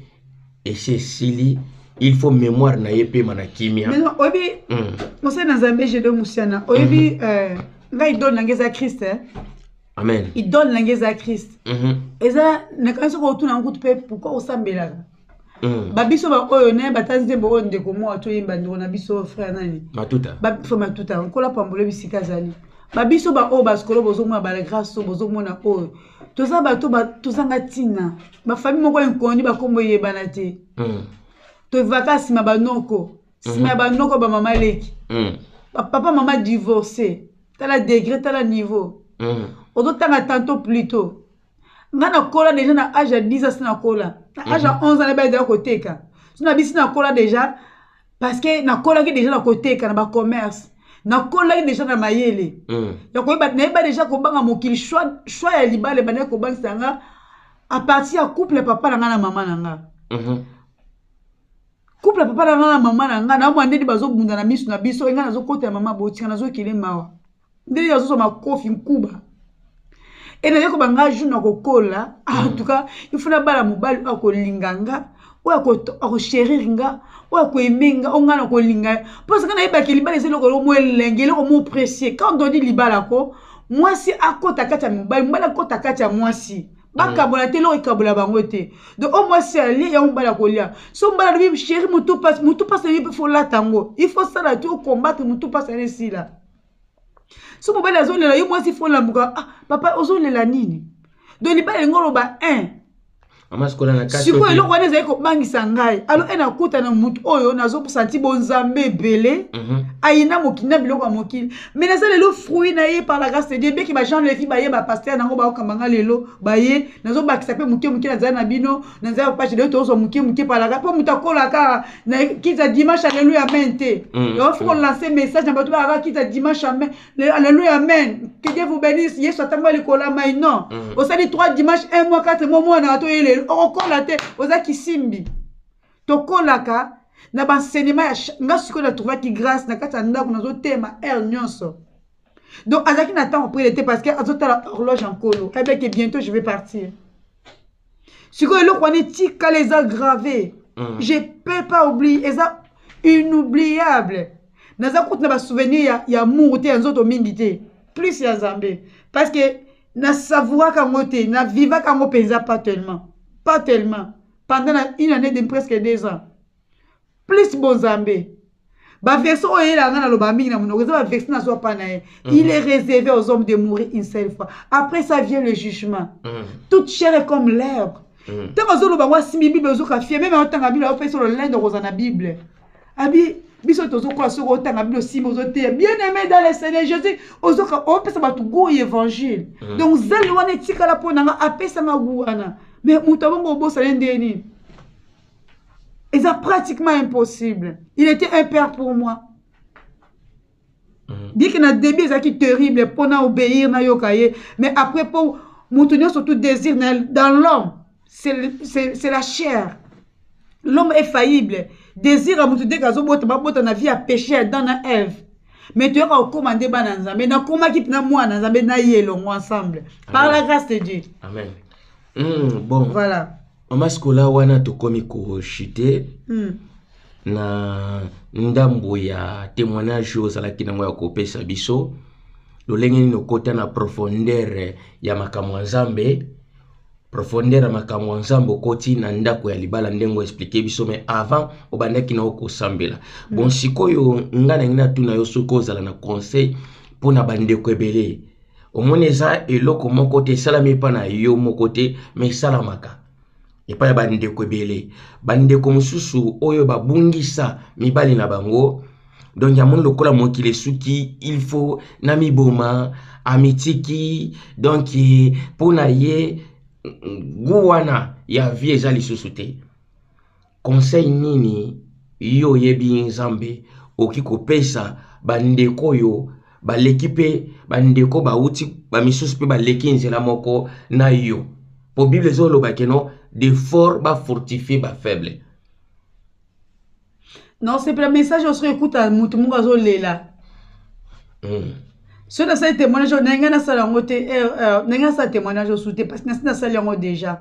esi esili il faut mémoire na ye epema na kimia oyebi hmm. mosali na nzambe gedo musiana oyebi hmm. euh, ngai idole na ngai eza christ eh? amen idole na ngai eza christ eza nakanisi okotuna nkutu mpe pourkui osambelaka Mm. babiso baoyo naye bata nzembo oyo ndeko moa toyemba ndeko na biso frère nani matuta frère matuta nkola pambolo bisika azali babiso baoyo basikolo bozomona balagrace oyo bozomona oyo toza bato tozanga ntina bafami moko inkondi bakombo eyebana te mm. tovivaka nsima banoko nsima mm-hmm. ya banoko bamama leki mm. bapapa mama divorce tala degre tala niveau ozotanga tanto plutot nga nakola deja na age ya 10 ans si nakola na age ya 11 mhm. ans nayebi ezala koteka so na bisi nakola deja parce que nakolaki deja na koteka na bacommerce nakolaki deja na mayele mm. ya koyeba nayeba deja kobanga mokili choix ya libala ebandaki kobangisa nga a partir ya couple ya papa na nga na mama na nga mhm. couple ya papa na nga na mama na nga naomwa ndeni bazobunda na miso na biso enga nazokota ya mama botika nazokele mawa nde yo azozwa makofi nkuba ena ye koba nga jour nakokola ah, en mm. tout cas ifo nabala mobali oyo akolinga nga oyo akosherir nga oyo akoeme nga oyo ngai nakolinga mposa ngai nayebaki libala eza eloko eloko mo elenge eloko mo precie quand odi libala ko mwasi akota kati ya mobali mobali akota kati ya mwasi bakabola te eloko ekabola bango te donc oyo mwasi alie yango mobali akolia so mobali alobi sheri motu mpasi motu mpasi nayebi mpe folata yango il faut sala te okombatre motu mpasi ane esila so mobali azolela yo mwasi fo lamuka ah, papa ozolela nini donc libala elingi oloba un sikoyo eloko wana ezali kobangisa ngai alo e nakuta na motu oyo nazosanti bonzambe ebele mhm. ayina mokili na biloko ya mokili mai naza lelo fruit na ye par la grâce de dieu beki bajean levi baye bapaster nango baokamba ngai lelo baye nazobakisa mpe moke moke nazali na bino na nzela ya page leo tozwa moke moke palaka mpo moto akolaka na kiza dimanche aleluya amen te mm, yango fo kolanse mm. message na bato balaka kiza dimanche amen aleluya amen que dieu vous bénisse yesu atango alikola mai non mm. osali 3 dimanche 1 mois 4 mois mwana bato oyeleli okokola te oza kisimbi tokolaka na baenseignement ya nga sikoyo na trouvaki grâce na kati ya ndako nazotema heure nyonso donc azalaki na ntango prele te parce que azotala horloge ya nkolo ebeke bientôt je vais partir sikoyo eloko wana etikala eza grave mm. je peux pas oublier eza inoubliable naza kutu na basouvenir ya, ya muru te ya nzoto mingi te plus ya nzambe parce que nasavouraka yango te navivaka yango mpenza pas tellement pas tellement pendant na une année de presque deux ans plus bonzambe baversion oyo eyelaka ngai nalobaka mingi na monoko eza baversion nazwa mpa na ye mhm. il est réservé aux hommes de mourir une seule fois après ça vient le jugement mhm. toute chair est comme l'herbe mhm. ntango azoloba yango asimbi bible ozoka fie meme aotanga bible aopesa lolende okozwa na bible abi biso tozokola soki otanga bino nsima ozoteya bien aimé dans le seigneur jésus ozoka opesa bato goût ya évangile donc zali wana etikala mpo na nga apesa nga goût wana mais moto abongo obosana ye ndenge nini eza pratiquement impossible il était un père pour moi mhm. bien que na début ezalaki terrible mpo na obéir nayoka ye mais après mpo moto nyonso tout désir dans l'homme c'est la chair l'homme est faillible désir ya moto ndenge azobota babota na vie ya péché ya dan na eve mais toyoka kokóma nde bana nzambe nakomaki mpena mwana nzambe na ye elongo ensemble par la grâce de dieu amen mm, bon voilà Mama Sikola wana tokomi ko chute mm. na ndambo ya témoignage oyo ozalaki nango ya kopesa biso lolenge nini okota na profondeur ya makambo ya Nzambe profondeur ya makambo ya Nzambe okoti na ndako ya libala ndenge oexplike biso mais avant obandaki na okosambela mm. bon sikoyo ngai nangi natuna yo soki ozala na conseil mpo na bandeko ebele omoni eza eloko moko te esalami epa na yo moko te ma esalamaka epai ya bandeko ebele bandeko mosusu oyo babungisa mibali na bango donc ya moni lokola mokili esuki il faut na miboma amitiki donc mpo na ye gu wana ya vie eza lisusu te Conseil nini yo oyebi Nzambe oki kopesa bandeko oyo baleki mpe bandeko bauti bamisusu mpe baleki nzela moko na yo mpo bible ezoloba keno de fort bafortifie bafaible non sepela message oyo soki ekuta motu moko azolela hmm. soki nasali témoignage oyo ndenge nasala yango te eh, eh, ndenge nasala témoignage osu te parce que nasi nasali yango déjà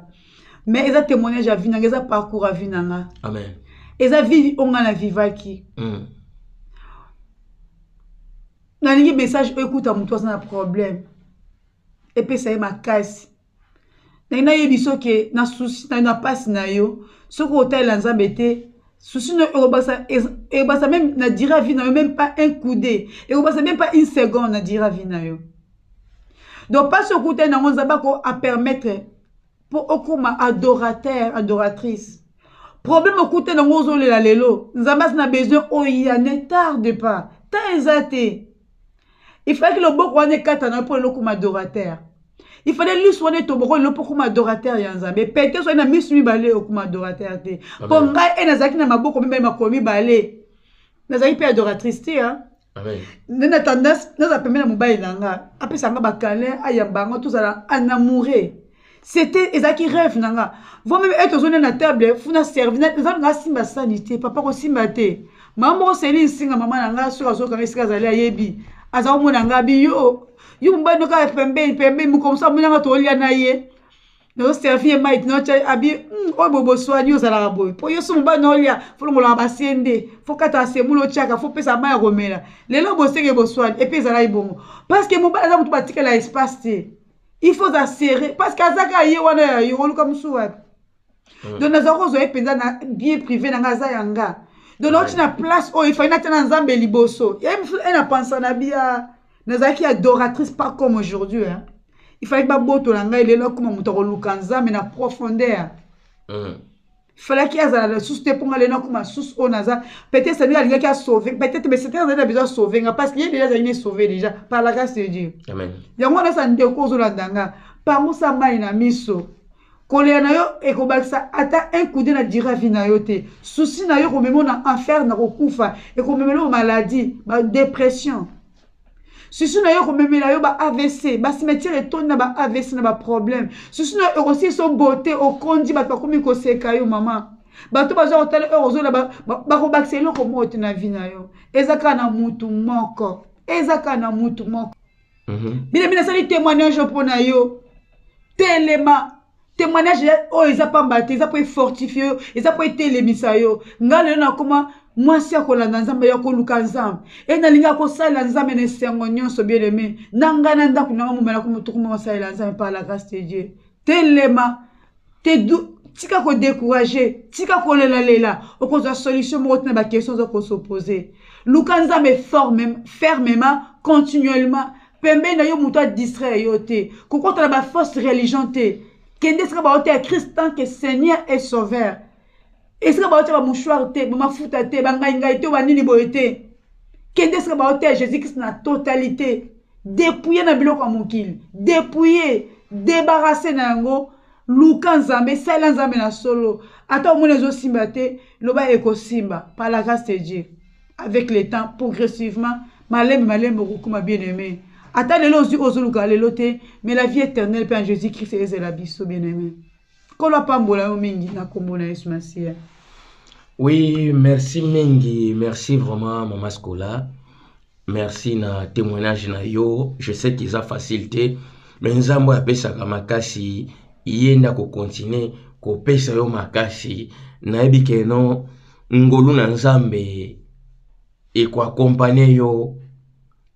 mais eza témoignage ya vie nanga eza parcours ya vie nanga amen eza vie oyo ngai na vivaki mm. nalingi message oyo ekuta moto aza na problème epesa ye makasi nalingi nayebi soki na susi na mpasi na yo soki otalela nzambe te susi na ekobasa ekobasa meme na dira vie na yo meme pas un coup de ekobasa meme pas une seconde na dira vie na yo donc mpasi okutani nango nzambe ako apermettre po okoma adorateur adoratrice problème okute nango ozolela lelo nzambe asi na besoin oya ne tarde pas temps eza te il fallait que loboko wana ekata na yo mpo lelo okoma adorateur il fallait lisu wana etoboko lelo mpo okoma adorateur ya nzambe pete soki na misu mibale okoma adorateur te mpo ngai e nazalaki na maboko mibale makolo mibale nazalaki mpe adoratrice te nde na tendance naza pembe na mobali na nga apesa nga bakalin ayamba nga tozala anamoure c'était ezalaki rêve na nga voi meme ete ozonde na table funa servi eza nga asimba sani te papa kosimba te mama moko seli nsinga mama na nga soki azokanga esika azali ayebi aza komona nga biyo yo mobali nokaa pembeni pembeni mokomisa monanga tolia na ye nazoservi ye mai tinoca abi hmm, oyo boboswani ozalaka boye mpo yo so mobali na olia folongolaka basie nde fokata asemula otiaka fopesa mai ya komela lelo bosenge boswani epe ezalaki bongo parce que mobali aza motu batikela espace te il faut aza serre parce que aza kaka ye wana ya yo oluka mosusu wapi hmm. donc nazalaki kozwa ye mpenza na bien privé na ngai aza ya nga donc nauti na place oyo efali natia na nzambe liboso ye na pansa na bia nazalaki adoratrice pas comme aujourd'hui hein? il fallaki babotola ngai lelo akoma moto akoluka nzambe na profondeur mm. falaki azala lisusu te mpo ngai lelo nakoma susu oyo naza peut-être nde alingaki asauve peut-être mais satan azali na besoin asauve nga parce que ye deja azali ne sauve déjà par la grâce de dieu yango wana sa ndeko ozolanda nga pangusa mai na miso kolela na yo ekobakisa ata un coup de na dira vie na yo te souci na yo ekomema na enfer na kokufa ekomemela yo maladie ba dépression susu na yo ekomemela yo ba avc bacimetiere etondi na ba avc na baproblème susu na yo ekosilisa obote okondi bato bakomi koseka yo mama bato baza kotala heure ozola bakobakisa eloko moko te na vie na yo eza kaka na mutu moko eza kaka na mutu moko mhm. bina bina asali témoignage mpo na yo telema témoignage oyo eza pamba te eza mpo efortifie yo eza mpo etelemisa yo ngai lelo nakoma mwasi ya kolanda nzambe ya koluka nzambe e nalingi akosalela nzambe na esengo nyonso bien aime na ngai na ndako nanga momela komotokomama asalela nzambe par la grâce de dieu telema te tika ko décourager tika kolela lela okozwa solution moko tina ba question oza kosopose luka nzambe fermement continuellement pembeni na yo moto adistraire yo te kokota na bafausse religion te kende esika baoteya christ tant que seigneur et sauveur esika baotya bamouchoir te bamafuta te bangaingai te banini boye te kende esika baotya jésus krist na totalité depouye na biloko ya mokili depouye debarase na yango luka nzambe salela nzambe na solo ata omoni ezosimba te loba ekosimba par la grâce de dieu avec le temps progressivement malembe malembe okokoma bien aimé ata lelo ozwi ozoluka lelo te mais la vie éternelle mpe en jésus christ ezela biso bien aimé nkolo apambola yo mingi na nkombo na yesu masiya oui merci mingi merci vraiment mama scola merci na témoignage na yo je sais qu'eza facile te me nzambe oyo apesaka makasi ye nde akokontinue kopesa yo makasi nayebi keno ngolu na nzambe ekoakompanye yo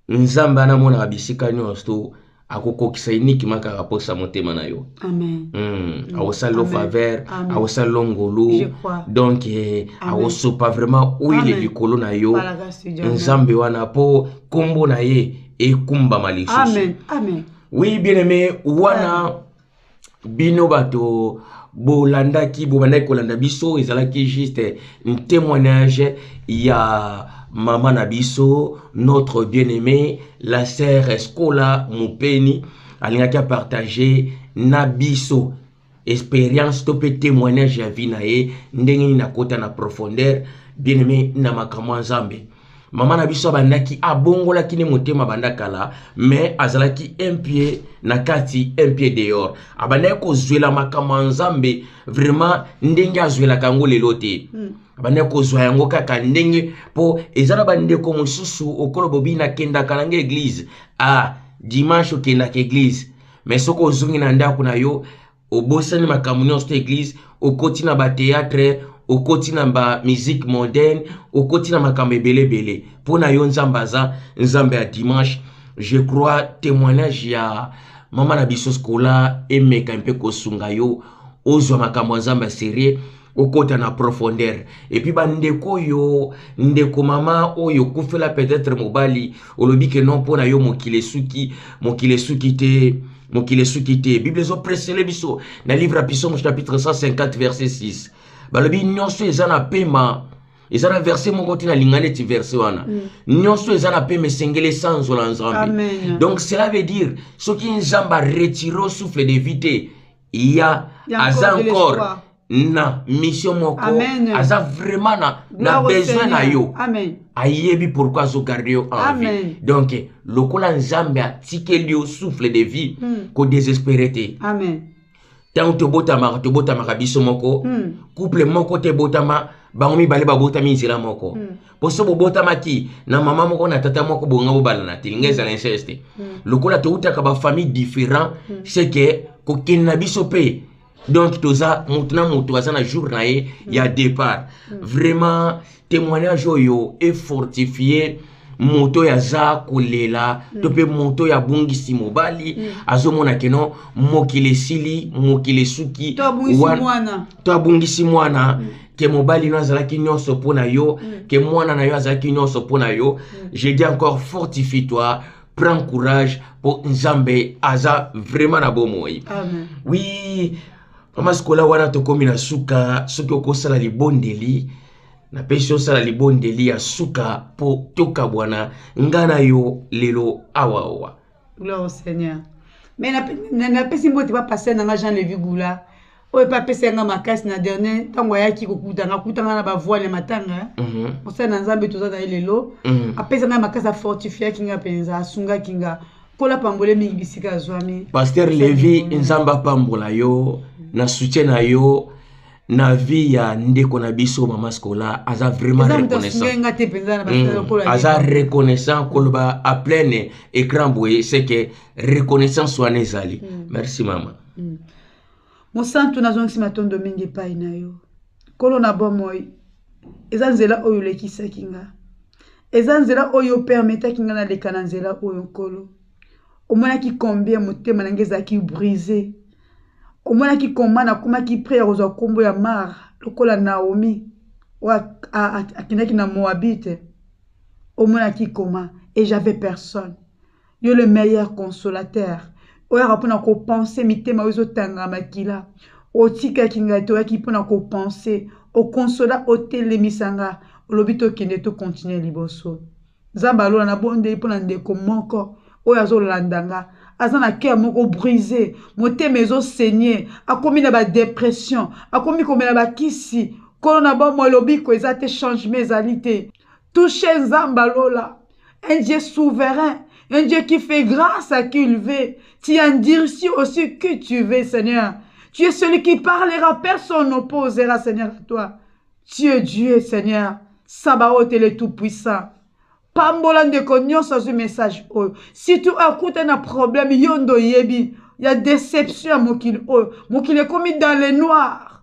nzambe wana amonaka bisika nyonso akokokisa uniquement kaka mposa motema na yo hmm, akosala yo faveur akosala yo ngolu donk eh, akosopa vraiment oile likolo na yo nzambe wana mpo nkombo na ye ekumbama lisusu oui bien aimé wana bino bato bolandaki bobandaki kolanda biso ezalaki juste un témoignage ya mama na biso notre bien aimé la sœur escola mopeni alingaki apartage na biso expérience to mpe témoignage ya vie na ye ndenge nini nakota na profondeur bien aimé na makambo ya nzambe mama na biso abandaki abongolaki ne motema banda kala mais azalaki un pied na kati un pied dehors abandaki kozwela makambo ya nzambe vraiment ndenge azwelaka yango lelo te hmm. abandaki kozwa yango kaka ndenge mpo eza na bandeko mosusu okolo bobi nakendaka nanga eglize ah dimanche okendaka eglize mais soki ozongi na ndako na yo obosani makambo nyonso te eglise okoti na bateatre okoti na bamusike moderne okoti na makambo ebele ebele mpo na yo nzambe aza nzambe ya dimanche je crois témoignage ya mama na biso skola emeka mpe kosunga yo ozwa makambo ya nzambe ya serie okota na profondeur epuis bandeko oyo ndeko mama oyo okufela peut-être mobali olobi ke non mpo na yo mokili esuki mokili esuki te mokili esuki te bible ezopresele biso na livre ya pisomo chapitre 150 verset 6 balobi nyonso eza na pema eza na verse moko te nalinga neti verse wana mm. nyonso eza na pema esengeli esanzola nzambe donc cela veut dire soki nzambe aretire souffle de vie te ya aza encore na mission moko aza vraiment na, na besoin na yo ayebi pourkui azogarde yo envie donc lokola nzambe atikeli yo souffle de vie hmm. kodesespere te ntango tobotamaka tobotamaka biso moko hmm. couple moko te ebotama bango mibale babotami nzela moko hmm. poso bobotamaki na mama moko na tata moko bonga bobalana te linga ezala inceste mm. lokola toutaka bafamille différent mm. c'est que kokende na biso mpe donc toza motu na motu aza na jour na ye mm. ya départ mm. vraiment témoignage oyo efortifie moto oyo aza kolela mm. to mpe moto oyo abungisi mobali mm. azomona keno mokili esili mokili esuki to abungisi mwana mm. ke mobali no azalaki nyonso mpo na yo mm. ke mwana na yo azalaki nyonso mpo na yo mm. je dis encore fortifie toi prends courage mpo nzambe aza vraiment na bomoi oui mama sikola wana tokomi na suka soki okosala libondeli napesi osala libondeli ya suka mpo tokabwana ngai na yo lelo awaowa gloire au seigneur mais napesi mbote bapaster na ngai jean levi goula oyo mpe apesa yanga makasi na dernier ntango ayaki kokutanga akutanga na bavoile ya matanga mhm. mosali na nzambe toza na ye lelo mhm. apesa ngai makasi afortifiaki ngai mpenza asungaki nga kola pambole mingi bisika azwami paster levi nzambe apambola yo na soutien na yo na vie ya ndeko na biso mama scola aza vraiment reconnaissant hmm. aza reconnaissant koloba a pleine écran boye c'est que reconnaissance wana ezali hmm. merci mama hmm. Mosantu, nazongisi matondo mingi epai na yo, Nkolo na bomoi. Eza nzela oyo olekisaki nga, eza nzela oyo opermetaki nga naleka na nzela oyo. Nkolo, omonaki combien motema na nga ezalaki brise, omonaki koma nakomaki pre ya kozwa nkombo ya Mara lokola Naomi oyo akendaki na Moabite, omonaki koma et j'avais personne yo le meilleur consolateur oyaka mpo na kopense mitema oyo ezotanga makila otikaki ngai te oyaki mpo na kopense okonsola otelemisa nga olobi tokende tokontinue liboso nzambe alola nabondeli mpo na ndeko moko oyo azolanda nga aza na cœur moko brise motema ezosenye akomi na badepression akomi komela bakisi nkolo na bomoi lobiko eza te changement ezali te Touchez Nzamba Lola, un Dieu souverain, un Dieu qui fait grâce à qui il veut. Tu endurcis aussi que tu veux, Seigneur. Tu es celui qui parlera, personne n'opposera, Seigneur, à toi. Tu es Dieu, Seigneur. Sabaoth est le Tout-Puissant. pambola ndeko nyonso azwi message oyo surtout akuta na problème yo nde oyebi ya déception ya mokili oyo mokili ekomi dans le noir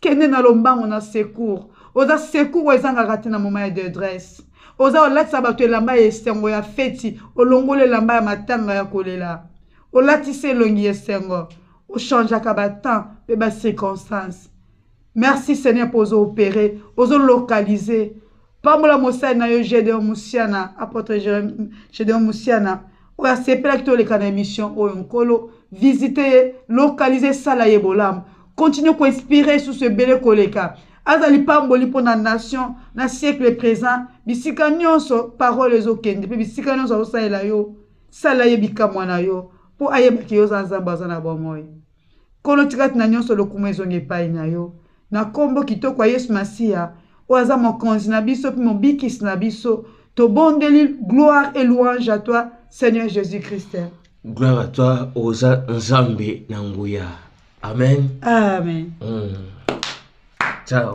kende na lombango na secour oza secour oyo ezangaka te na moma ya dedresse oza kolatisa bato elamba ya esengo ya feti olongoli elamba ya matanga ya kolela olatisi elongi ya esengo ochangeaka batemp mpe bacirconstance merci seigneur mpo ozo opere ozo localise pambola mosali na yo gedeon musiana apotre gedeon musiana oyo asepelaki toleka na émission oyo nkolo visite ye lokalise esala ye bolamu continue koinspire susu ebele koleka aza lipamboli mpo na nation na siècle présent bisika nyonso parole ezokende mpe bisika nyonso azosalela yo sala ye bikamwa na yo mpo ayebaki yo oza nzambe aza na bomoi Nkolo, tika ete na nyonso lokumu ezonga epai na yo, na nkombo kitoko ya Yesu Masiya, oyo aza Mokonzi na biso mpe Mobikisi na biso. Tobondeli, gloire et louange à toi, Seigneur Jésus-Christ. Gloire à toi, oza Nzambe na nguya. Amen. Amen. Mm. Ciao.